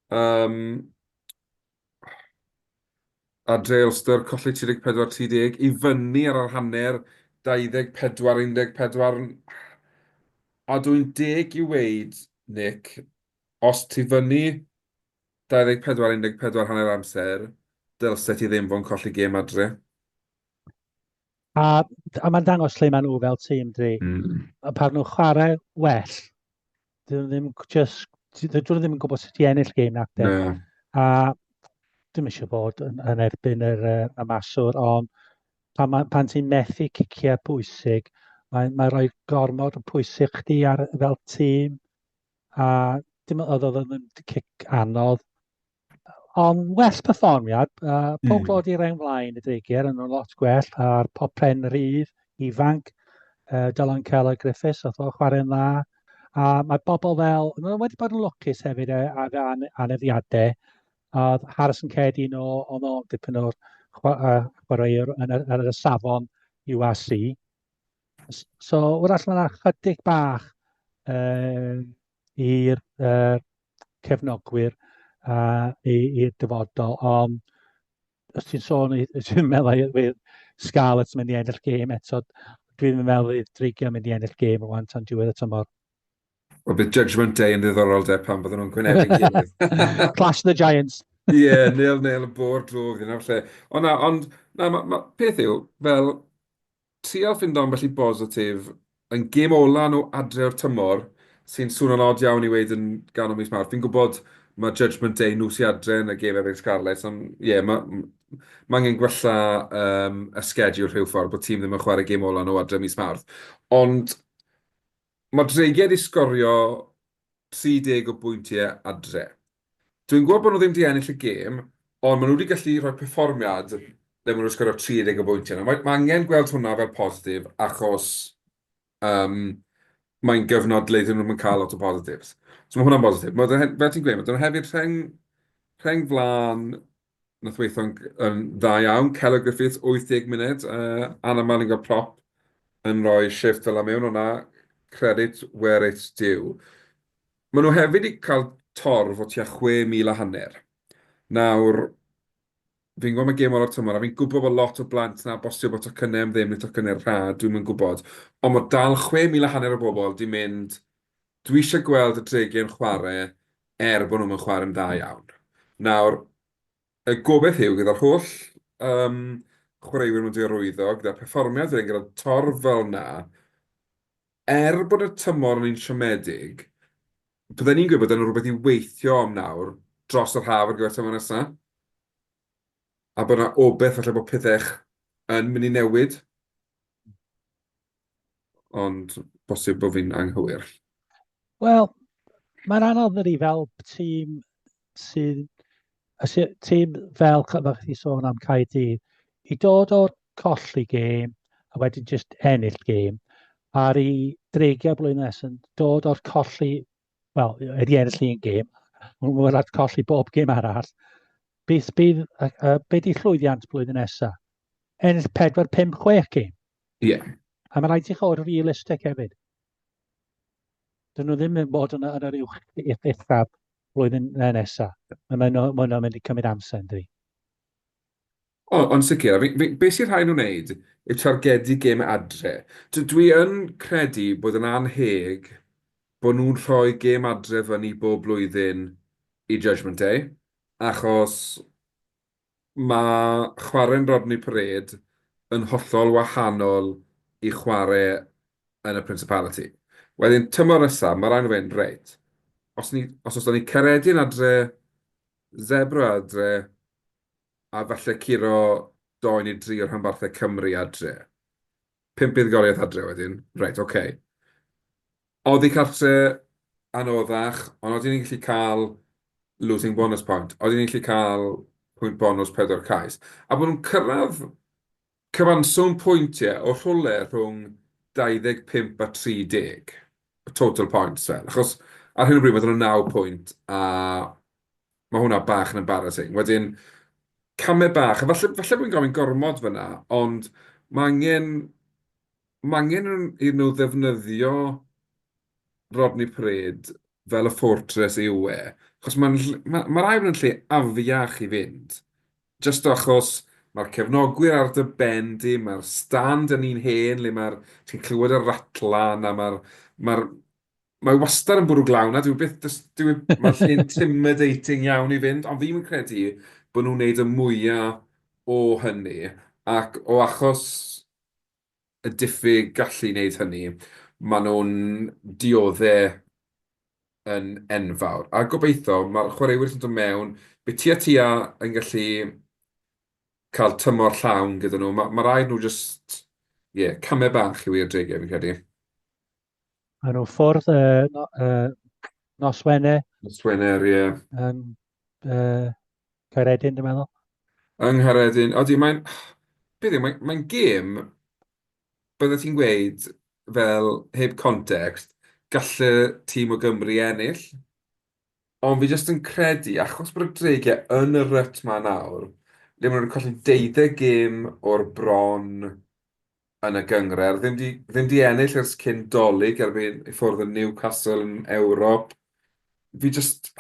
Um, a Dre Ulster colli 34-30 i fyny ar yr hanner 24-14. A dwi'n deg i weid, Nick, os ti fyny 24-14 hanner amser, dylse ti ddim fo'n colli gêm adre. A, a mae'n dangos lle maen nhw fel tîm, dwi. Mm. A pan nhw'n chwarae well, dyn nhw ddim just... Dyn nhw ddim yn gwybod sut i ennill gêm na. No. A dim eisiau bod yn, yn erbyn yr, y maswr, ond pan, ma, pan ti'n methu ciciau pwysig, mae'n mae rhoi gormod o pwysig chdi ar, fel tîm. A dim oedd oedd yn cic anodd, Ond well perfformiad, uh, pob clod mm. i'r ein flaen y dreigiau yn o'n lot gwell a'r pop pen rhydd, ifanc, uh, Dylan Keller Griffiths, oedd o'n chwarae'n dda. A mae bobl fel, nhw wedi bod yn lwcus hefyd e, a fe aneddiadau, a Harrison Cedi yn ôl, o'n ôl dipyn o'r chwaraewr yn yr, yr safon UAC. So, wrach mae'n chydig bach uh, i'r uh, cefnogwyr a i'r dyfodol. Ond os ti'n sôn, ti'n meddwl i'r Scarlets mynd i ennill gêm eto, dwi'n meddwl i'r Dreigiau mynd i ennill gêm o wan tan diwedd y tymor. O bydd Judgment Day yn ddiddorol de pan fydden nhw'n gwynebu'n gilydd. Clash the Giants. Ie, yeah, nil nil y bor drwg yn lle. Ond na, ond na, ma, ma, peth yw, fel, Trial ffindo ambell i bositif yn gêm ola nhw adre o'r tymor, sy'n swno'n od iawn i weud yn ganol mis Mawrth. Fi'n gwybod mae Judgement Day nhw sy adre yn y gêm erbyn Scarlets, ond ie, ma- ma' angen gwella yym y sgediwl rhyw ffordd, bod tîm ddim yn chware gêm ola nhw adre mis Mawrth. Ond... Mae Tregear 'di sgorio 30 o bwyntiau adre. Dwi'n gwybod bod nhw ddim 'di ennill y gêm, ond maen nhw 'di gallu rhoi perfformiad ble maen nhw 'di sgorio 30 o bwyntiau. Nawr, mae angen gweld hwnna fel positif achos mae'n gyfnod le 'dyn nhw ddim yn cael lot o positives. So mae hwnna'n bositif. Fel ti'n gweud, maen nhw hefyd rheng flaen wnaeth weithio'n dda iawn. Celo Griffiths, 80 munud. Anna Mallingham-Propp yn rhoi shifft fel 'na mewn o 'na, credit where it's due. Maen nhw hefyd 'di cael torf o tua 6,000 a hanner. Nawr, fi'n gwybod mae gêm ola'r tymor, a fi'n gwybod bod lot o blant 'na, bosib bod tocynnau am ddim neu tocynnau rhad, dwi'm yn gwybod. Ond mae dal 6,000 a hanner o bobl 'di mynd Dwi eisiau gweld y Dregyn yn chwarae er bod nhw'm yn chwarae'n dda iawn. Nawr, y gobaith yw gyda'r holl yym chwaraewyr mewn diarwyddo, gyda'r perfformiad wedyn gyda'r torf fel 'na, er bod y tymor yn un siomedig, bydden ni'n gweud bod yna rhywbeth i weithio am nawr dros yr haf ar gyfer tymor nesa. A bod 'na obaith falle bod pethech yn mynd i newid. Ond bosib bod fi'n anghywir. Wel, mae'n anodd ydy fel tîm sy'n... Tîm fel, fel chi sôn am Caerdydd, i dod o'r colli gêm a wedyn jyst ennill gêm, a'r i dreigiau blwyddyn nes yn dod o'r colli, wel, wedi ennill un gêm, ond mae'n rhaid colli bob gêm arall. Beth bydd, uh, uh, be di llwyddiant blwyddyn nesaf? Ennill 4, 5, 6 gêm. Ie. Yeah. A mae'n rhaid i chi fod realistig hefyd. Dyn nhw ddim yn bod yn, yn yr uwch eithaf flwyddyn nesaf. Mae'n nhw'n mynd i cymryd amser yn dwi. O, ond sicr, beth sy'n rhaid nhw'n wneud yw targedu gêm adre. Dwi yn credu bod yn anheg bod nhw'n rhoi gêm adre fyny bob blwyddyn i Judgment Day, achos Mae chwarae'n Rodney Parade yn hollol wahanol i chwarae yn y Principality. Wedyn, tymor nesaf, mae rhaid nhw fynd, reit, os ni, os os ni'n Caeredin adre, Zebre adre, a falle curo dou neu dri o rhanbarthau Cymru adre. Pump buddugoliaeth adre wedyn. Reit, ocê. Oddi cartre anoddach, ond odyn ni'n gallu cael losing bonus point. Odyn ni'n gallu cael pwynt bonws pedwar cais. A bod nhw'n cyrraedd cyfanswm pwyntiau o rhywle rhwng 25 a 30. Total points fel. Achos ar hyn o bryd maen nhw'n naw pwynt a Mae hwnna bach yn embarrassing. Wedyn, camau bach, a falle, falle bod fi'n gofyn gormod fyna, ond mae angen, mae angen iddyn nhw ddefnyddio Rodney Parade fel y fortress yw e, achos mae'n ll- ma' ma'r air yn lle afiach i fynd, jyst achos mae'r cefnogwyr ar dy ben di, mae'r stand yn un hen le mae'r, ti'n clywed y ratlan a mae'r, mae'r, Mae wastad yn bwrw glaw 'na, dyw e byth, does, dyw e, mae'n lle intimidating iawn i fynd, ond fi'm yn credu bod nhw'n wneud y mwya o hynny, ac o achos y diffyg gallu i wneud hynny, maen nhw'n diodde' yn enfawr. A gobeitho, mae'r chwaraewyr sy'n dod mewn, bydd tua tua yn gallu cael tymor llawn gyda nhw, ma' ma' raid nhw jyst, ie, camau bach yw eu adegau fi'n credu. Maen nhw ffordd y no, uh, nos Wener. Nos Wener, ie. Yeah. Yn uh, Caredin, dwi'n meddwl. Yng Ngharedin. Odi, mae'n... Beth yw, mae'n mae gêm... Bydde ti'n gweud, fel heb context, gallu tîm o Gymru ennill. Ond fi jyst yn credu, achos bod y dreigiau yn y ryt ma nawr, le maen nhw'n colli deuddeg gêm o'r bron, yn y gynghrair. Ddim di, ddim di ennill ers cyn dolyg erbyn i ffwrdd yn Newcastle yn Ewrop. Fi just...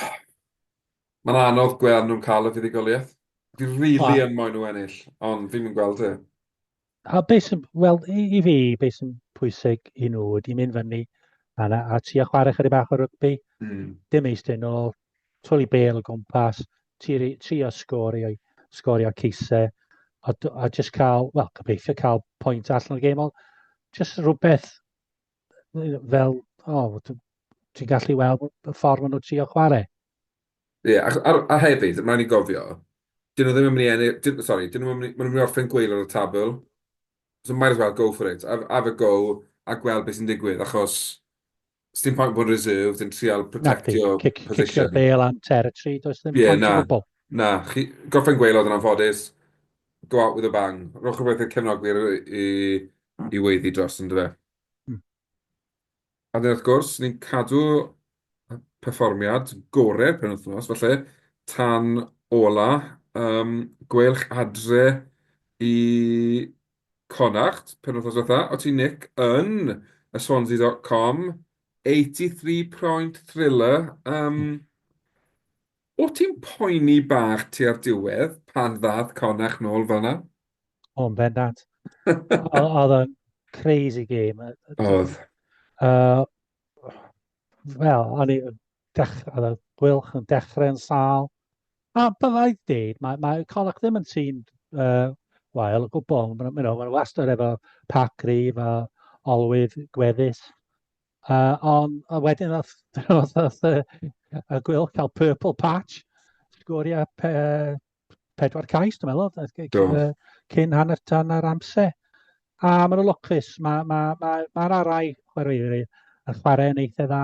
Mae'n anodd gweld nhw'n cael y fuddugoliaeth. Fi rili really yn moyn nhw ennill, ond fi'n mynd gweld e. A beth sy'n, wel, i, i fi, beth sy'n pwysig i nhw ydy mynd fyny a, a ti a chwarae chydig bach o rygbi, mm. dim eistedd nôl, twli bel o gwmpas, tri, tri o sgorio, sgorio ceisau a, a just cael, wel, gobeithio cael pwynt allan o'r gêm, ond just rhywbeth fel, o, oh, ti'n gallu weld y ffordd maen nhw tri o chwarae. Ie, yeah, a, a, a hefyd, mae'n i gofio, dyn nhw ddim yn mynd i ennill, dyn, sorry, dyn nhw ddim yn mynd i orffen gweil o'r tabl, so might as well go for it, have, have a go a gweld beth sy'n digwydd, achos Sdim pwynt bod reserved yn trial protectio position. Nacdi, cicio bale and territory, does ddim pwynt o gwbl. Na, chi gorffen gweil oedd yn anffodus, go out with a bang. Rhowch rhywbeth i'r cefnogwyr i weiddi dros yn dyfe. A wedyn wrth gwrs, ni'n cadw perfformiad gorau'r penwythnos, falle tan ola, gweilch adre i Connacht penwythnos dwetha, o ti Nick yn y Swansea dot com, 83 proint thriller, yym o ti'n poeni bach tua'r diwedd pan ddath Connacht nôl fel yna? O, yn bendant. Oedd o'n crazy game. Oedd. Uh, Wel, o'n i dech- oedd y gweilch yn dechrau yn sâl. A byddai dweud, mae, mae Connacht ddim yn tîm uh, wael o gwbl. Maen nhw ma wastad efo pac grif a olwydd gweddus. Uh, ond a wedyn oedd, oedd, oedd y, y gweilch cael purple patch, sgoriau pe, pedwar cais, dwi'n meddwl, oedd cyn, Do. yy, cyn hanner tan yr amser. A maen nhw'n lwcus, mae'r ma, ma, ma, ma mae'r arau chwaraewyr yn chwarae yn eitha dda.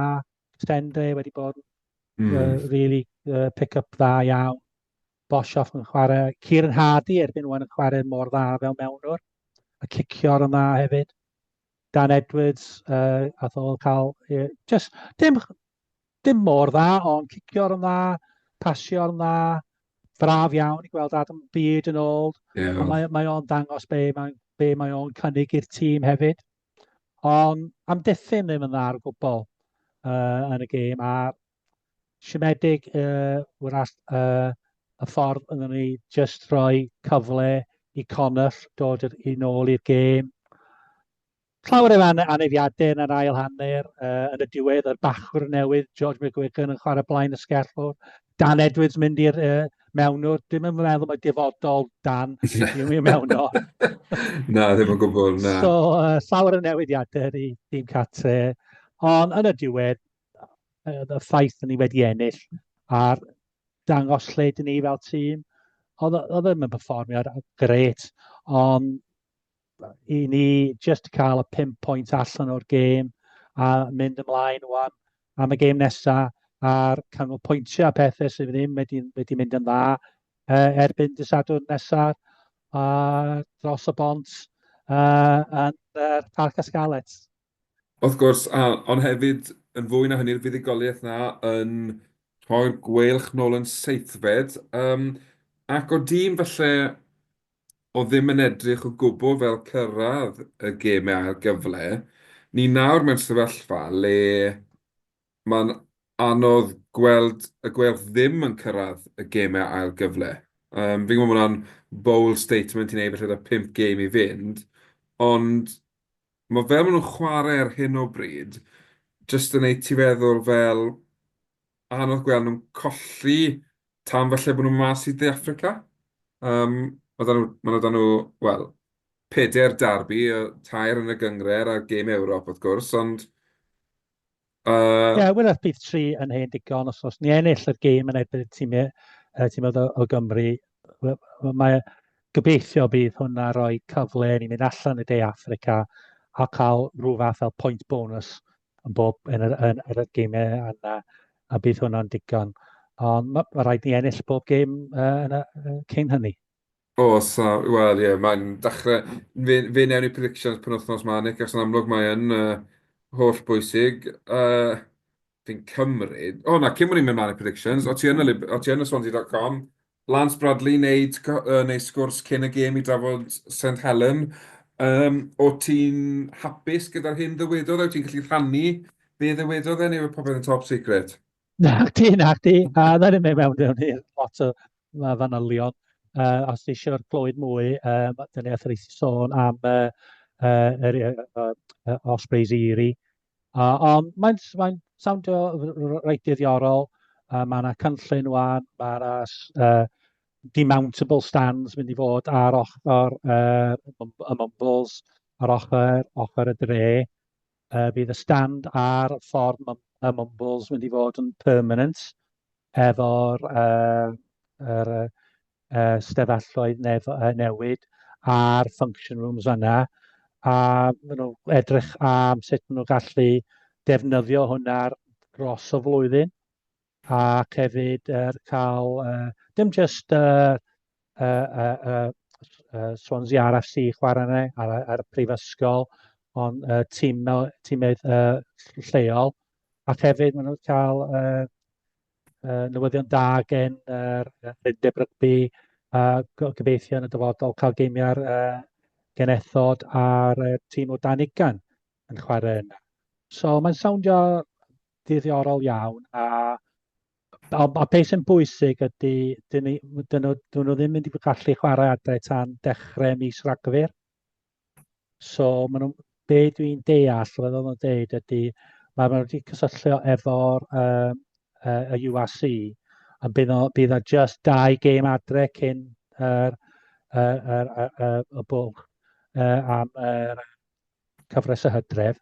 Sendre wedi bod yn uh, Mm. really uh, pick-up dda iawn. Boshoff yn chwarae. Kieran Hardy erbyn wan yn chwarae mor dda fel mewnwr. A cicio'r yn dda hefyd. Dan Edwards, uh, ath o cael... Uh, just, dim, Dim mor dda, ond cicio'r yn dda, pasio'r yn dda. Braf iawn i gweld Adam Bede yn ôl. Yeah. Ond mae, mae o'n dangos be mae, be mae o'n cynnig i'r tîm hefyd. Ond am diffyn ddim yn dda ar gwbl uh, yn y gêm. A siomedig uh, wrach uh, y ffordd yn ni just rhoi cyfle i Connell dod yn ôl i'r gêm. Llawer o anafiadau yn yr ail hanner, yn y diwedd yr bachwr newydd George McGuigan yn chwarae blaen y sgellwr, Dan Edwards mynd i'r uh, mewnwr, dim yn meddwl mae dyfodol Dan i mewnwr. na, ddim yn gwybod, na. So, uh, llawer o newidiadau i dim catre, ond yn y diwedd, uh, y ffaith ni wedi ennill a'r dangos lle dyn ni fel tîm, oedd e ddim yn performio gret, ond i ni just cael y 5 pwynt allan o'r gêm a mynd ymlaen wan am y gêm nesaf a'r canol pwyntiau a pethau sydd ddim wedi, wedi mynd yn dda uh, erbyn disadwr nesaf a dros y bont uh, yn uh, Parc Asgalet. Wrth gwrs, a, ond hefyd yn fwy na hynny'r fuddugoliaeth 'na yn rhoi'r gweilch nôl yn seithfed, yym, ac o dîm falle oedd ddim yn edrych o gwbl fel cyrraedd y gêmau ail gyfle, ni nawr mewn sefyllfa le Mae'n anodd gweld y Gweilch ddim yn cyrraedd y gemau ail gyfle. Fi'n gwybod bod hwnna'n bold statement i wneud falle 'da pump gêm i fynd, ond mae fel maen nhw'n chwarae ar hyn o bryd jyst yn wneud ti feddwl fel anodd gweld nhw'n colli tan falle bod nhw mas i De Affrica. Mae 'da nhw, maen nhw 'da nhw, wel, pedair derby, tair yn y gynghrair a'r gêm Ewrop wrth gwrs, ond Uh... Ie, yeah, wylaf bydd tri yn hen digon, os os ni ennill yr gêm yn erbyn y tîmau, uh, tîmau o, o Gymru, mae gobeithio bydd hwnna roi cyfle i ni mynd allan i De Africa a cael rhyw fath fel point bonus yn bob yn yr, yn, yn yr gymau yna, a bydd hwnna'n digon. Ond mae ma rhaid ni ennill bob gêm uh, yn y, uh, cyn hynny. Oes, a wel ie, mae'n dechrau... fe fe wnawn ni predictions penwythnos 'ma Nick, achos yn amlwg mae e'n yy hollbwysig. Yy, fi'n cymryd... O na, cyn bo' ni'n mynd mlaen i predictions, o't ti yn y Lib- o't ti yn y Swansea dot com, Lance Bradley wneud co- yy wneud sgwrs cyn y gêm i drafod Saint Helen, yym, o't ti'n hapus gyda'r hyn ddywedodd e, wyt ti'n gallu rhannu be ddywedodd e neu yw popeth yn top secret? Na chdi, na chdi. A wna i ddim mynd mewn mewn i'r lot o ma- fanylion. Yy, os ti isio clywed mwy, yym, dan ni wrth ein rhaid sôn am y yy yr yy yy yy Ospreys Erie. A ond mae'n s- mae'n sowndio r- r- reit ddiddorol, a ma' 'na cynllun ŵan, ma' 'na s- yy demountable stands mynd i fod ar ochr yy y Mumbles, ar ochr ochr y dre. Yy bydd y stand ar ffordd Mum- y Mumbles mynd i fod yn permanent efo'r yy yr yy yy stafelloedd nef- yy newid a'r function rooms fan'na a ma' nhw edrych am sut ma' nhw'n gallu defnyddio hwnna dros y flwyddyn. ac hefyd er, cael uh, dim jyst uh, uh, uh, uh, uh, Swansea RFC chwarae yna ar, ar y prifysgol, ond uh, tîm, tîmydd uh, lleol, ac hefyd maen nhw'n cael uh, uh, newyddion da gen yr uh, Rindeb Rygbi a uh, gobeithio yn y dyfodol cael geimiau'r uh, genethod a'r uh, tîm o dan ugan yn chwarae yna. So mae'n sowndio diddorol iawn a a, a beth sy'n bwysig ydy, dyn ni, dyn nhw, dyn nhw ddim mynd i gallu chwarae adre tan dechrau mis Rhagfyr. So, ma nhw, be dwi'n deall, fe ddod nhw'n deud ydy, mae nhw wedi cysylltio efo'r uh, uh, y UAC, a bydd, o, bydd o just dau gêm adre cyn yr, yr, yr, yr, yr, y bwlch uh, am yr cyfres y hydref.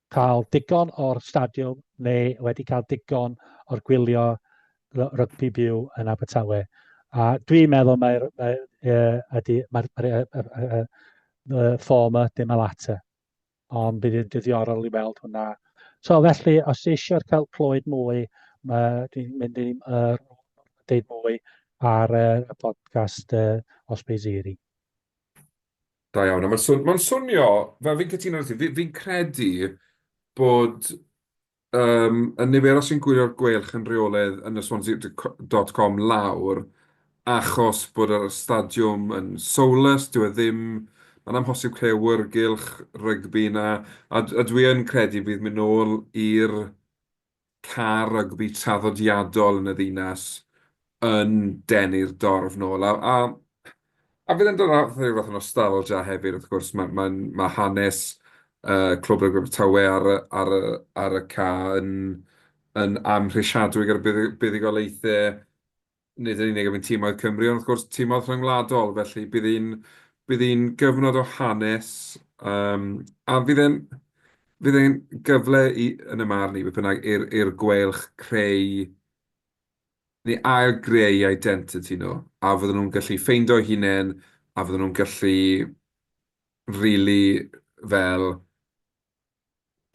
cael digon o'r stadiwm neu wedi cael digon o'r gwylio rygbi byw yn Abertawe. A dwi'n meddwl mae'r mae, uh, ydy, mae'r mae, uh, uh, uh, uh, former dim alata. Ond bydd yn dyddiorol i weld hwnna. So felly, os eisiau cael clywed mwy, mae, dwi'n mynd i uh, deud mwy ar uh, y podcast uh, Osbeiziri. Da iawn. A mae'n swn- mae'n swnio, fel fi'n cytuno 'da ti, fi fi'n credu bod yym y niferoedd sy'n gwylio'r Gweilch yn rheolaidd yn y Swansea d- c- dot com lawr achos bod yr stadiwm yn soulless, dyw e ddim... mae'n amhosib creu awyrgylch rygbi 'na, a d- a dwi yn credu bydd mynd nôl i'r car rygbi traddodiadol yn y ddinas yn denu'r dorf nôl. A, a, a fydd e'n dod â rhyw fath o nostalgia hefyd, wrth gwrs. Mae, mae, mae hanes uh, Clwb Rygbi Abertawe ar, y, ar, y, ar y ca yn, yn amhrisiadwy gyda buddugoliaethau nid yn unig am ein timoedd Cymru, ond wrth gwrs timoedd rhyngwladol. Felly bydd hi'n... bydd hi'n gyfnod o hanes, yym, a fydd e'n... fydd e'n gyfle i, yn 'y marn i, beth bynnag, i'r i'r gweilch creu neu ail-greu identity nhw, a fydden nhw'n gallu ffeindio'u hunain, a fydden nhw'n gallu rili fel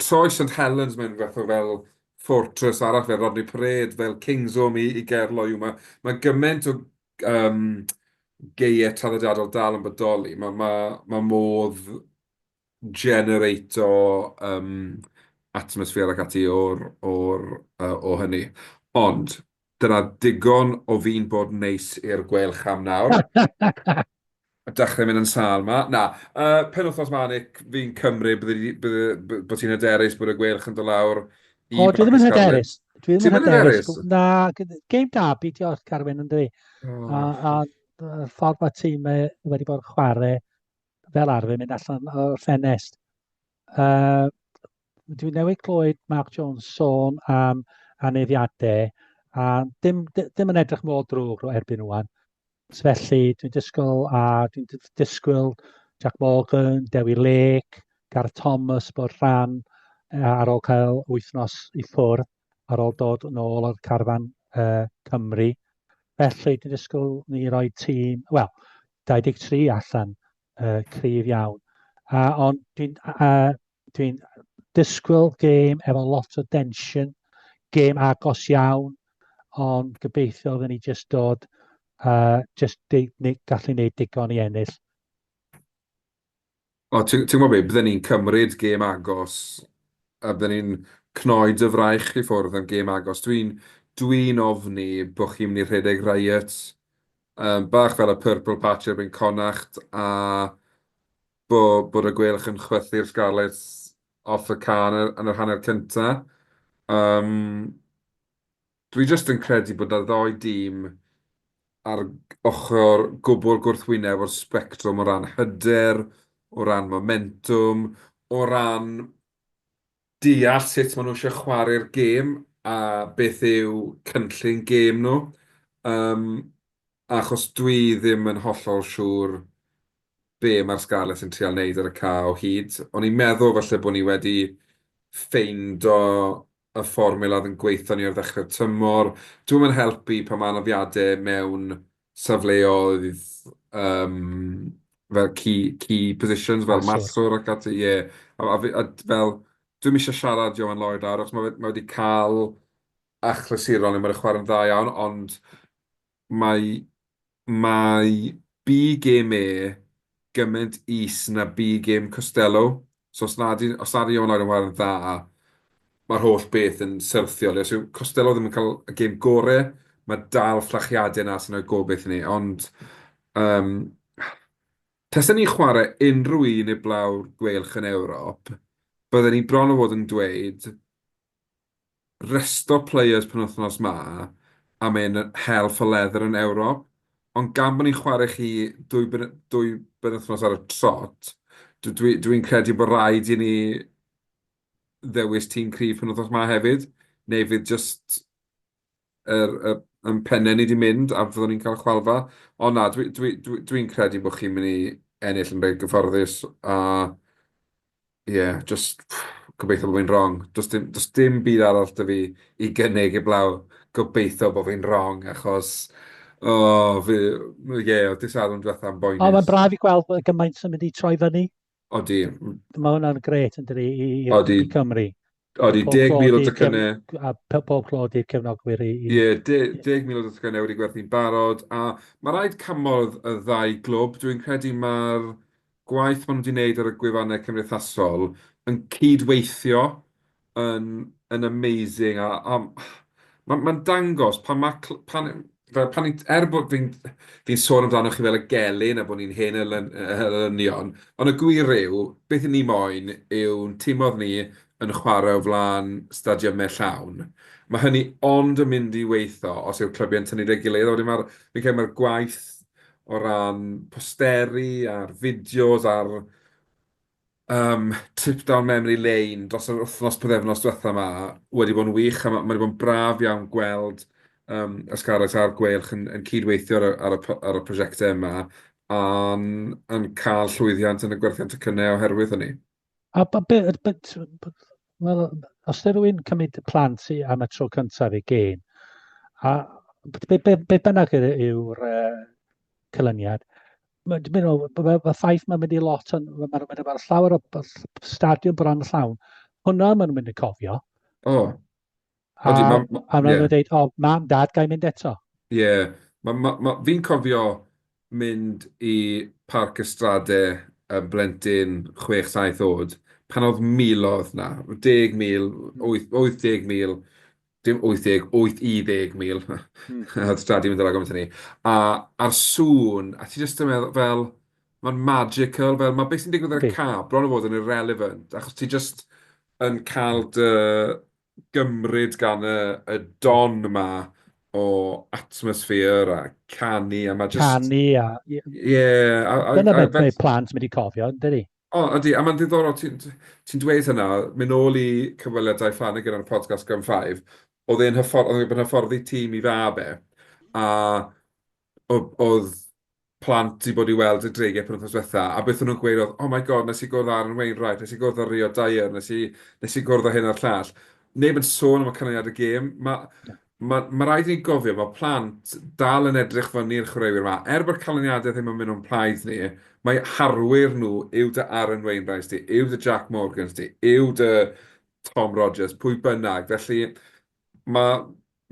Troy St Helens, mae'n fath o fel fortress arall fel Rodney Parade, fel King's Home i, i Gerlo yw. Mae, mae gymaint o um, geiau traddodiadol dal yn bodoli. Mae, mae, mae modd generato um, atmosffer ac ati o'r, o'r, uh, o hynny. Ond, Dyna digon o fi'n bod neis i'r Gweilch am nawr. Dechrau mynd yn sâl 'ma. Na, penwythnos 'ma Nick, fi'n cymryd bod ti'n hyderus bod y Gweilch yn dod lawr i Bacascarwyn. O, dwi ddim yn hyderus. Dwi ddim yn hyderus. Na, game derby di o'r Carwyn yn dwi. A'r ffordd mae tîm wedi bod yn chwarae fel arfer mynd allan o'r ffenest. Dwi newydd clywed Mark Jones sôn am aneddiadau, a dim, dim yn edrych mor drwg o erbyn rwan. Felly, dwi'n disgwyl, a dwi'n disgwyl Jack Morgan, Dewi Lake, Gareth Thomas bod rhan e, ar ôl cael wythnos i ffwrdd, ar ôl dod yn ôl o'r carfan uh, Cymru. Felly, dwi'n disgwyl ni roi tîm, wel, 23 allan, uh, cryf iawn. Uh, ond dwi'n uh, dwi'n disgwyl gêm efo lot o densiwn, gêm agos iawn, ond gobeithio fydden ni jyst dod, uh, jyst gallu gwneud digon i ennill. O, ti'n gwybod beth, bydden ni'n cymryd gêm agos, a bydden ni'n cnoi dy fraich i ffwrdd am gêm agos. Dwi'n dwi ofni bod chi'n mynd i rhedeg riot, um, bach fel y Purple Patch erbyn Connacht, a bod bod y Gweilch yn chwythu'r Scarlets off y cân yn yr hanner cynta. Yym, dwi jyst yn credu bod 'na ddou dîm ar ochr gwbl gwrthwyneb o'r sbectrwm o ran hyder, o ran momentwm, o ran deall sut maen nhw eisiau chwarae'r gêm a beth yw cynllun gêm nhw, yym, achos dwi ddim yn hollol siŵr be mae'r Scarlets yn trial wneud ar y ca o hyd. O'n i'n meddwl falle bod ni wedi ffeindo y fformula oedd yn gweithio ni ar ddechrau'r tymor. Dwi'm yn helpu pan mae anafiadau mewn safleoedd yym fel key key positions fel marcwr ac ati ie. A a fi a d- fel dwi'm isie siarad Ioan Lloyd lawr achos ma' fe ma' wedi cael achlysuron le ma' fe'n chwarae'n dda iawn ond mae mae big game e gymaint is na bu gêm Costelow. So os na di- os na di Iona yn chwarae'n dda, mae'r holl beth yn syrthiol. Os yw Costelow ddim yn cael y gêm gorau, mae dal fflachiadau yna sy'n rhoi gobaith i ni. Ond yym tasen ni'n chwarae unrhyw un i'r Blau'r Gweilch yn Ewrop, bydden ni bron o fod yn dweud resto players penwythnos 'ma am ein hel for leather yn Ewrop, ond gan bod ni'n chwarae chi dwy dwy benwythnos ar y trot, dw- dwi dwi'n credu bod raid i ni ddewis tîm cryf penwythnos 'ma hefyd, neu fydd jyst yr y yn penne ni 'di mynd a fyddwn ni'n cael chwalfa. Ond na, dwi dwi dwi dwi'n credu bod chi'n mynd i ennill yn reit gyfforddus a ie, jyst gobeithio bod fi'n wrong. Does dim does dim byd arall 'da fi i gynnig heblaw gobeithio bod fi'n wrong achos o fi ie, oedd dydd Sadwrn diwetha yn boenus. O, mae'n braf i gweld bod gymaint yn mynd i troi fyny. Odi. Mae hwnna'n gret yn dydi i, i, Odi. i Cymru. Odi, 10,000 o docynnau. A pob clod i'r cefnogwyr i... Ie, yeah, 10,000 o docynnau wedi gwerthu'n barod, a mae rhaid cymorth y ddau glwb. Dwi'n credu mae'r gwaith maen nhw wedi wneud ar y gwefannau cymdeithasol yn cyd-weithio yn yn amazing a a ma' ma'n dangos pan ma' cl- pan fel pan ni'n er bod fi'n fi'n sôn amdano chi fel y gelyn a bod ni'n hen elyny- elynion ond y gwir yw beth 'yn ni moyn yw'n tim o'dd ni yn chware o flan stadiymau llawn ma' hynny ond yn mynd i weitho os yw'r clybiau'n tynnu 'da'i gilydd a wedyn ma'r fi'n credu ma'r gwaith o ran posteri a'r fideos a'r Yym, trip down memory lane dros yr wythnos, pythefnos diwetha 'ma wedi bod yn wych, a ma' ma' 'di bod yn braf iawn gweld yym y Scarlets a'r Gweilch yn yn cyd-weithio ar y ar y p- ar y prosiectau yma, a'n a'n cael llwyddiant yn y gwerthiant tocynnau oherwydd hynny. A b- be- yy be- t- b- wel, os ydy rhywun cymryd plant i am y tro cyntaf i gêm, a b- be, be, be bynnag yr- yw'r uh, cylyniad, Mae'n dibynnu ar ôl, mae ma ffaith mae'n mynd i lot, ond mae'n ma mynd efo'r llawer o stadiwm bron llawn. Hwna mae'n mynd i cofio. O. Oh. A, Odi, ma, ma, a yeah. dweud, o, mam, dad, gael mynd eto. Ie. Yeah. Ma, ma, ma, fi'n cofio mynd i Parc Ystrade y blentyn 6-7 oed, pan oedd milodd na, 10,000, 80,000 dim 80, 80 mil, oedd Dad 'di mynd draw gymaint â ni, a a'r sŵn, a ti jyst yn meddwl fel, mae'n magical, fel ma' be sy'n digwydd ar y ca bron a bod yn irrelevant, achos ti jyst yn cael dy gymryd gan y y don 'ma o atmosphere a canu a ma' jyst... Canu a... Ie a a a... Dyna be mae plant yn mynd i cofio yn dydi? O, ydy, a mae'n ddiddorol ti'n ti'n dweud hynna, mynd nôl i cyfweliadau Flanagan ar y podcast Gum Five, oedd e'n hyfford- oedd e'n gwbod hyfforddi tîm i fab e, a o- oedd plant 'di bod i weld y Dreigiau penwythnos dwetha, a beth o'n nhw'n gweud oedd, 'Oh my God, wnes i gwrdd â Aaron Wainwright, wnes i gwrdd â Rio Dyer, wnes i wnes i gwrdd â hyn a'r llall. Neb yn sôn am y canlyniad y gêm. Ma' Mae, mae rhaid i ni gofio, mae plant dal yn edrych fyny i'r chwaraewyr yma. Er bod canlyniadau ddim yn mynd o'n plaid ni, mae harwyr nhw yw dy Aaron Wainwright di, yw dy Jac Morgans di, yw dy Tom Rogers, pwy bynnag. Felly, mae,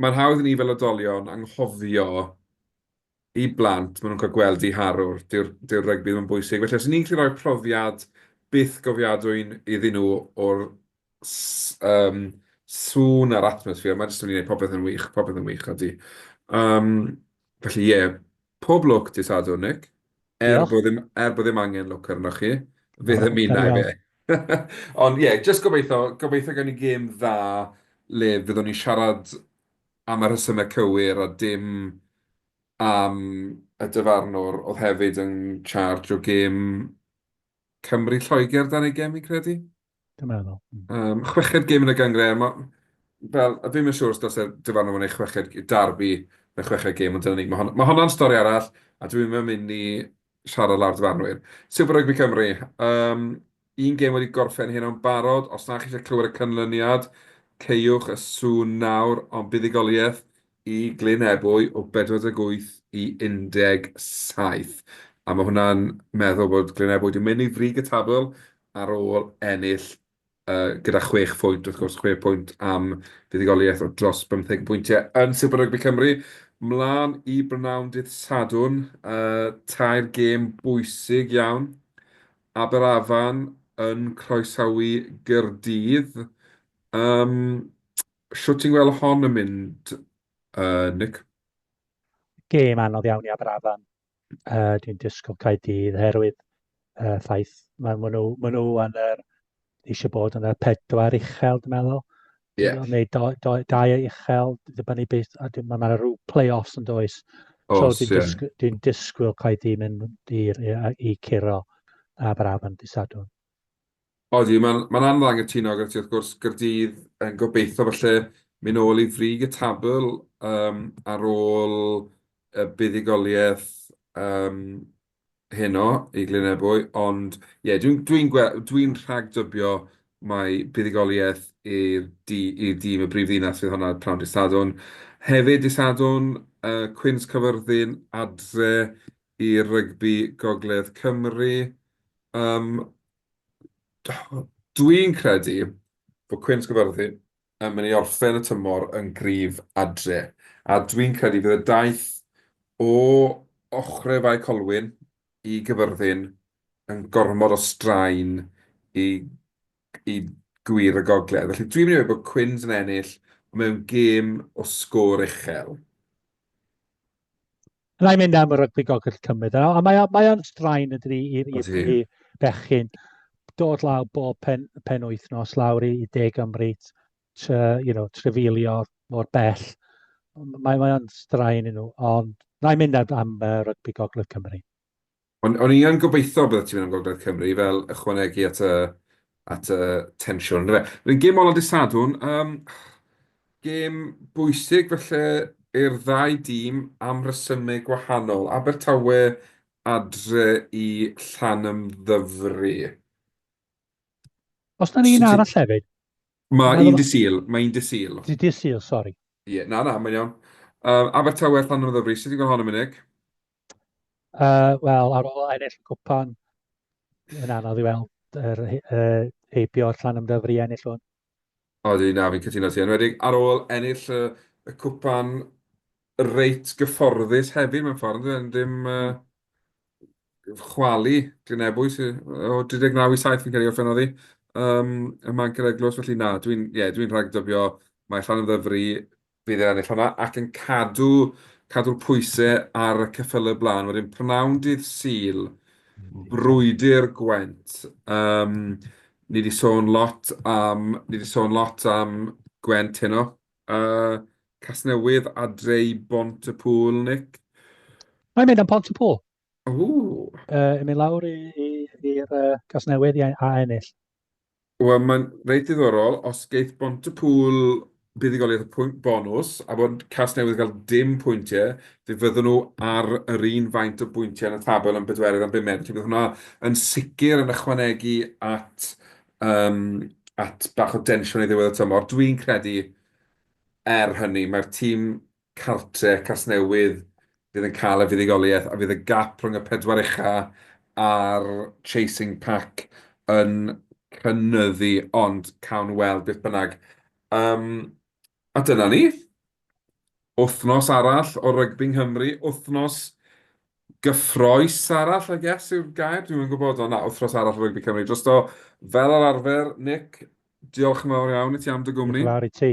mae'n hawdd i ni fel oedolion anghofio i blant, maen nhw'n cael gweld eu harwr, dyw'r, dyw'r rygbi ddim yn bwysig. Felly os y'n ni'n gallu rhoi profiad byth gofiadwy iddyn nhw o'r s- yym, sŵn a'r atmosffer, mae jyst yn mynd i wneud popeth yn wych, popeth yn wych, odi. Yym, felly ie, pob lwc dydd Sadwrn, Nick. Er Diolch. bod ddim, er bod ddim angen lwc arnoch chi, fe O, ddymunai cawn. fe. Ond ie, jyst gobeithio, gobeithio gawn ni gêm dda le fyddwn ni'n siarad am y rhesymau cywir a dim am y dyfarnwr oedd hefyd yn charge o gêm Cymru Lloegr dan ei gem fi'n credu. Dwi'n meddwl. Um, chweched gêm yn y gyngred, ma, fel, a fi'n siŵr os dos e'r dyfarnwr yn ei chweched darbi yn y chweched gêm, ond dyna ni, mae hon, ma honna'n stori arall, a dwi'n mynd i siarad lawr dyfarnwyr. Super Rugby Cymru, um, Un gêm wedi gorffen heno yn barod, os na chi eisiau clywed y canlyniad, caewch y sŵn nawr, ond buddugoliaeth i Glyn Ebwy o 48 i 17, a mae hwnna'n meddwl bod Glyn Ebwy wedi mynd i frig y tabl ar ôl ennill gyda chwech phwynt, wrth gwrs, chwe phwynt am fuddugoliaeth o dros bymtheg o bwyntiau yn Super Rugby Cymru. Mlaen i brynawn dydd Sadwrn, tair gêm bwysig iawn Aberafan yn croesawu Gaerdydd. Yym shwt ti'n gweld hon yn mynd yy Nick? Gêm anodd iawn i Aberafan. Uh, dwi'n disgwyl Caerdydd herwydd uh, ffaith mae nhw, ma nhw yn yr eisiau bod yn y pedwar uchel, dwi'n meddwl. Yeah. Neu do, do, dau uchel, dibynnu beth, a mae yna rhyw play-offs yn does. Os, so dwi'n yeah. disgwyl, dwi disgwyl cael i mynd i, i, i curo a braf yn disadwn. Odi, mae'n ma anodd angytuno gyda ti, wrth gwrs, Gyrdydd yn gobeithio falle mynd ôl i frig y tabl um, ar ôl y buddigoliaeth um, heno i Glyn Ebwy, ond ie, dwi'n dwi'n gwe-... dwi'n rhagdybio mai buddugoliaeth i'r du- i'r dîm y brif ddinas fydd honna pnawn dydd Sadwrn. Hefyd dydd Sadwrn, yy Cwins Cyfyrddin adre i rygbi Gogledd Cymru. Yym dwi'n credu bod Cwins Cyfyrddin yn mynd i orffen y tymor yn gryf adre, a dwi'n credu bydd y daith o ochrau Fae Colwyn i Gyfyrddin yn gormod o straen i i gŵyr y gogledd. Felly dwi'n mynd i ddweud bod Quins yn ennill mewn gêm o sgôr uchel. Rhaid mynd am y rygbi gogell cymryd. A mae, mae o'n straen yn dydi i, i, i bechgyn dod lawr bob pen, pen wythnos lawr i, i De Gymru, tre, you know, trefilio mor bell. Mae, mae o'n straen yn nhw, ond rhaid mynd am, am uh, rygbi gogledd Cymru. Ond o'n i yn gobeitho byddet ti'n mynd am Gogledd Cymru fel ychwanegu at y at y tensiwn yndyfe? Wedyn gêm ola dydd Sadwrn, yym gêm bwysig falle i'r ddau dîm am resymau gwahanol. Abertawe adre i Llanymddyfri. Os na un arall hefyd? Mae un dydd Sul, mae un dydd Sul. Dydd Sul, sori. Ie, na, na, mae'n iawn. Abertawe a Llanymddyfri, sut ti'n gweld hon am unig? Uh, Wel, ar ôl ennill y cwpan, yn anodd i weld yr uh, heibio o'r llan ymddyfri i ennill hwn. Odi, na, fi'n cytuno ti. Enwedig ar ôl ennill y, y cwpan reit gyfforddus hefyd mewn ffordd, yn ddim uh, chwalu Glynebwy o 39 i 7 fi'n cael ei orffen oddi. Um, y manc yr eglwys, felly na, dwi'n yeah, dwi rhagdybio mae Llan Ymddyfri Bydd e'n ennill honna ac yn cadw, cadw'r pwysau ar y ceffylau blaen. Wedyn prynawn dydd Sul, brwydr Gwent. Um, ni wedi sôn lot am, ni wedi sôn lot am Gwent heno. Uh, Casnewydd adre i Bont y Pŵl, Nick. Mae'n mynd am Pont y Pŵl. Ww. Uh, yn mynd lawr i'r uh, Casnewydd i a ennill. Wel, mae'n reit ddiddorol. Os geith Bontepŵl buddugoliaeth y pwynt bonws, a bod Casnewydd yn cael dim pwyntiau, fe fyddwn nhw ar yr un faint o bwyntiau yn y tabl yn bedwerydd am bumed. Felly, bydd hwnna yn sicr yn ychwanegu at, um, at bach o densiwn i ddiwedd y tymor. Dwi'n credu, er hynny, mae'r tîm cartref Casnewydd fydd yn cael y fuddugoliaeth a fydd y gap rhwng y pedwar ucha a'r chasing pack yn cynyddu ond cawn weld beth bynnag. Yym a dyna ni. Wythnos arall o rygbi Nghymru, wythnos gyffrous arall I guess yw'r gair, dwi'm yn gwybod ond na, wythnos arall o rygbi Cymru drosto fel yr arfer. Nick, diolch yn fawr iawn i ti am dy gwmni. Diolch yn fawr i ti.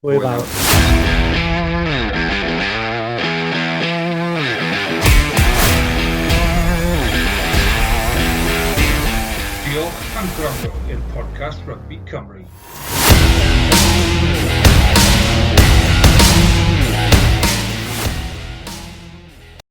Hwyl Diolch am gwrando i'r podcast Rugby Cymru.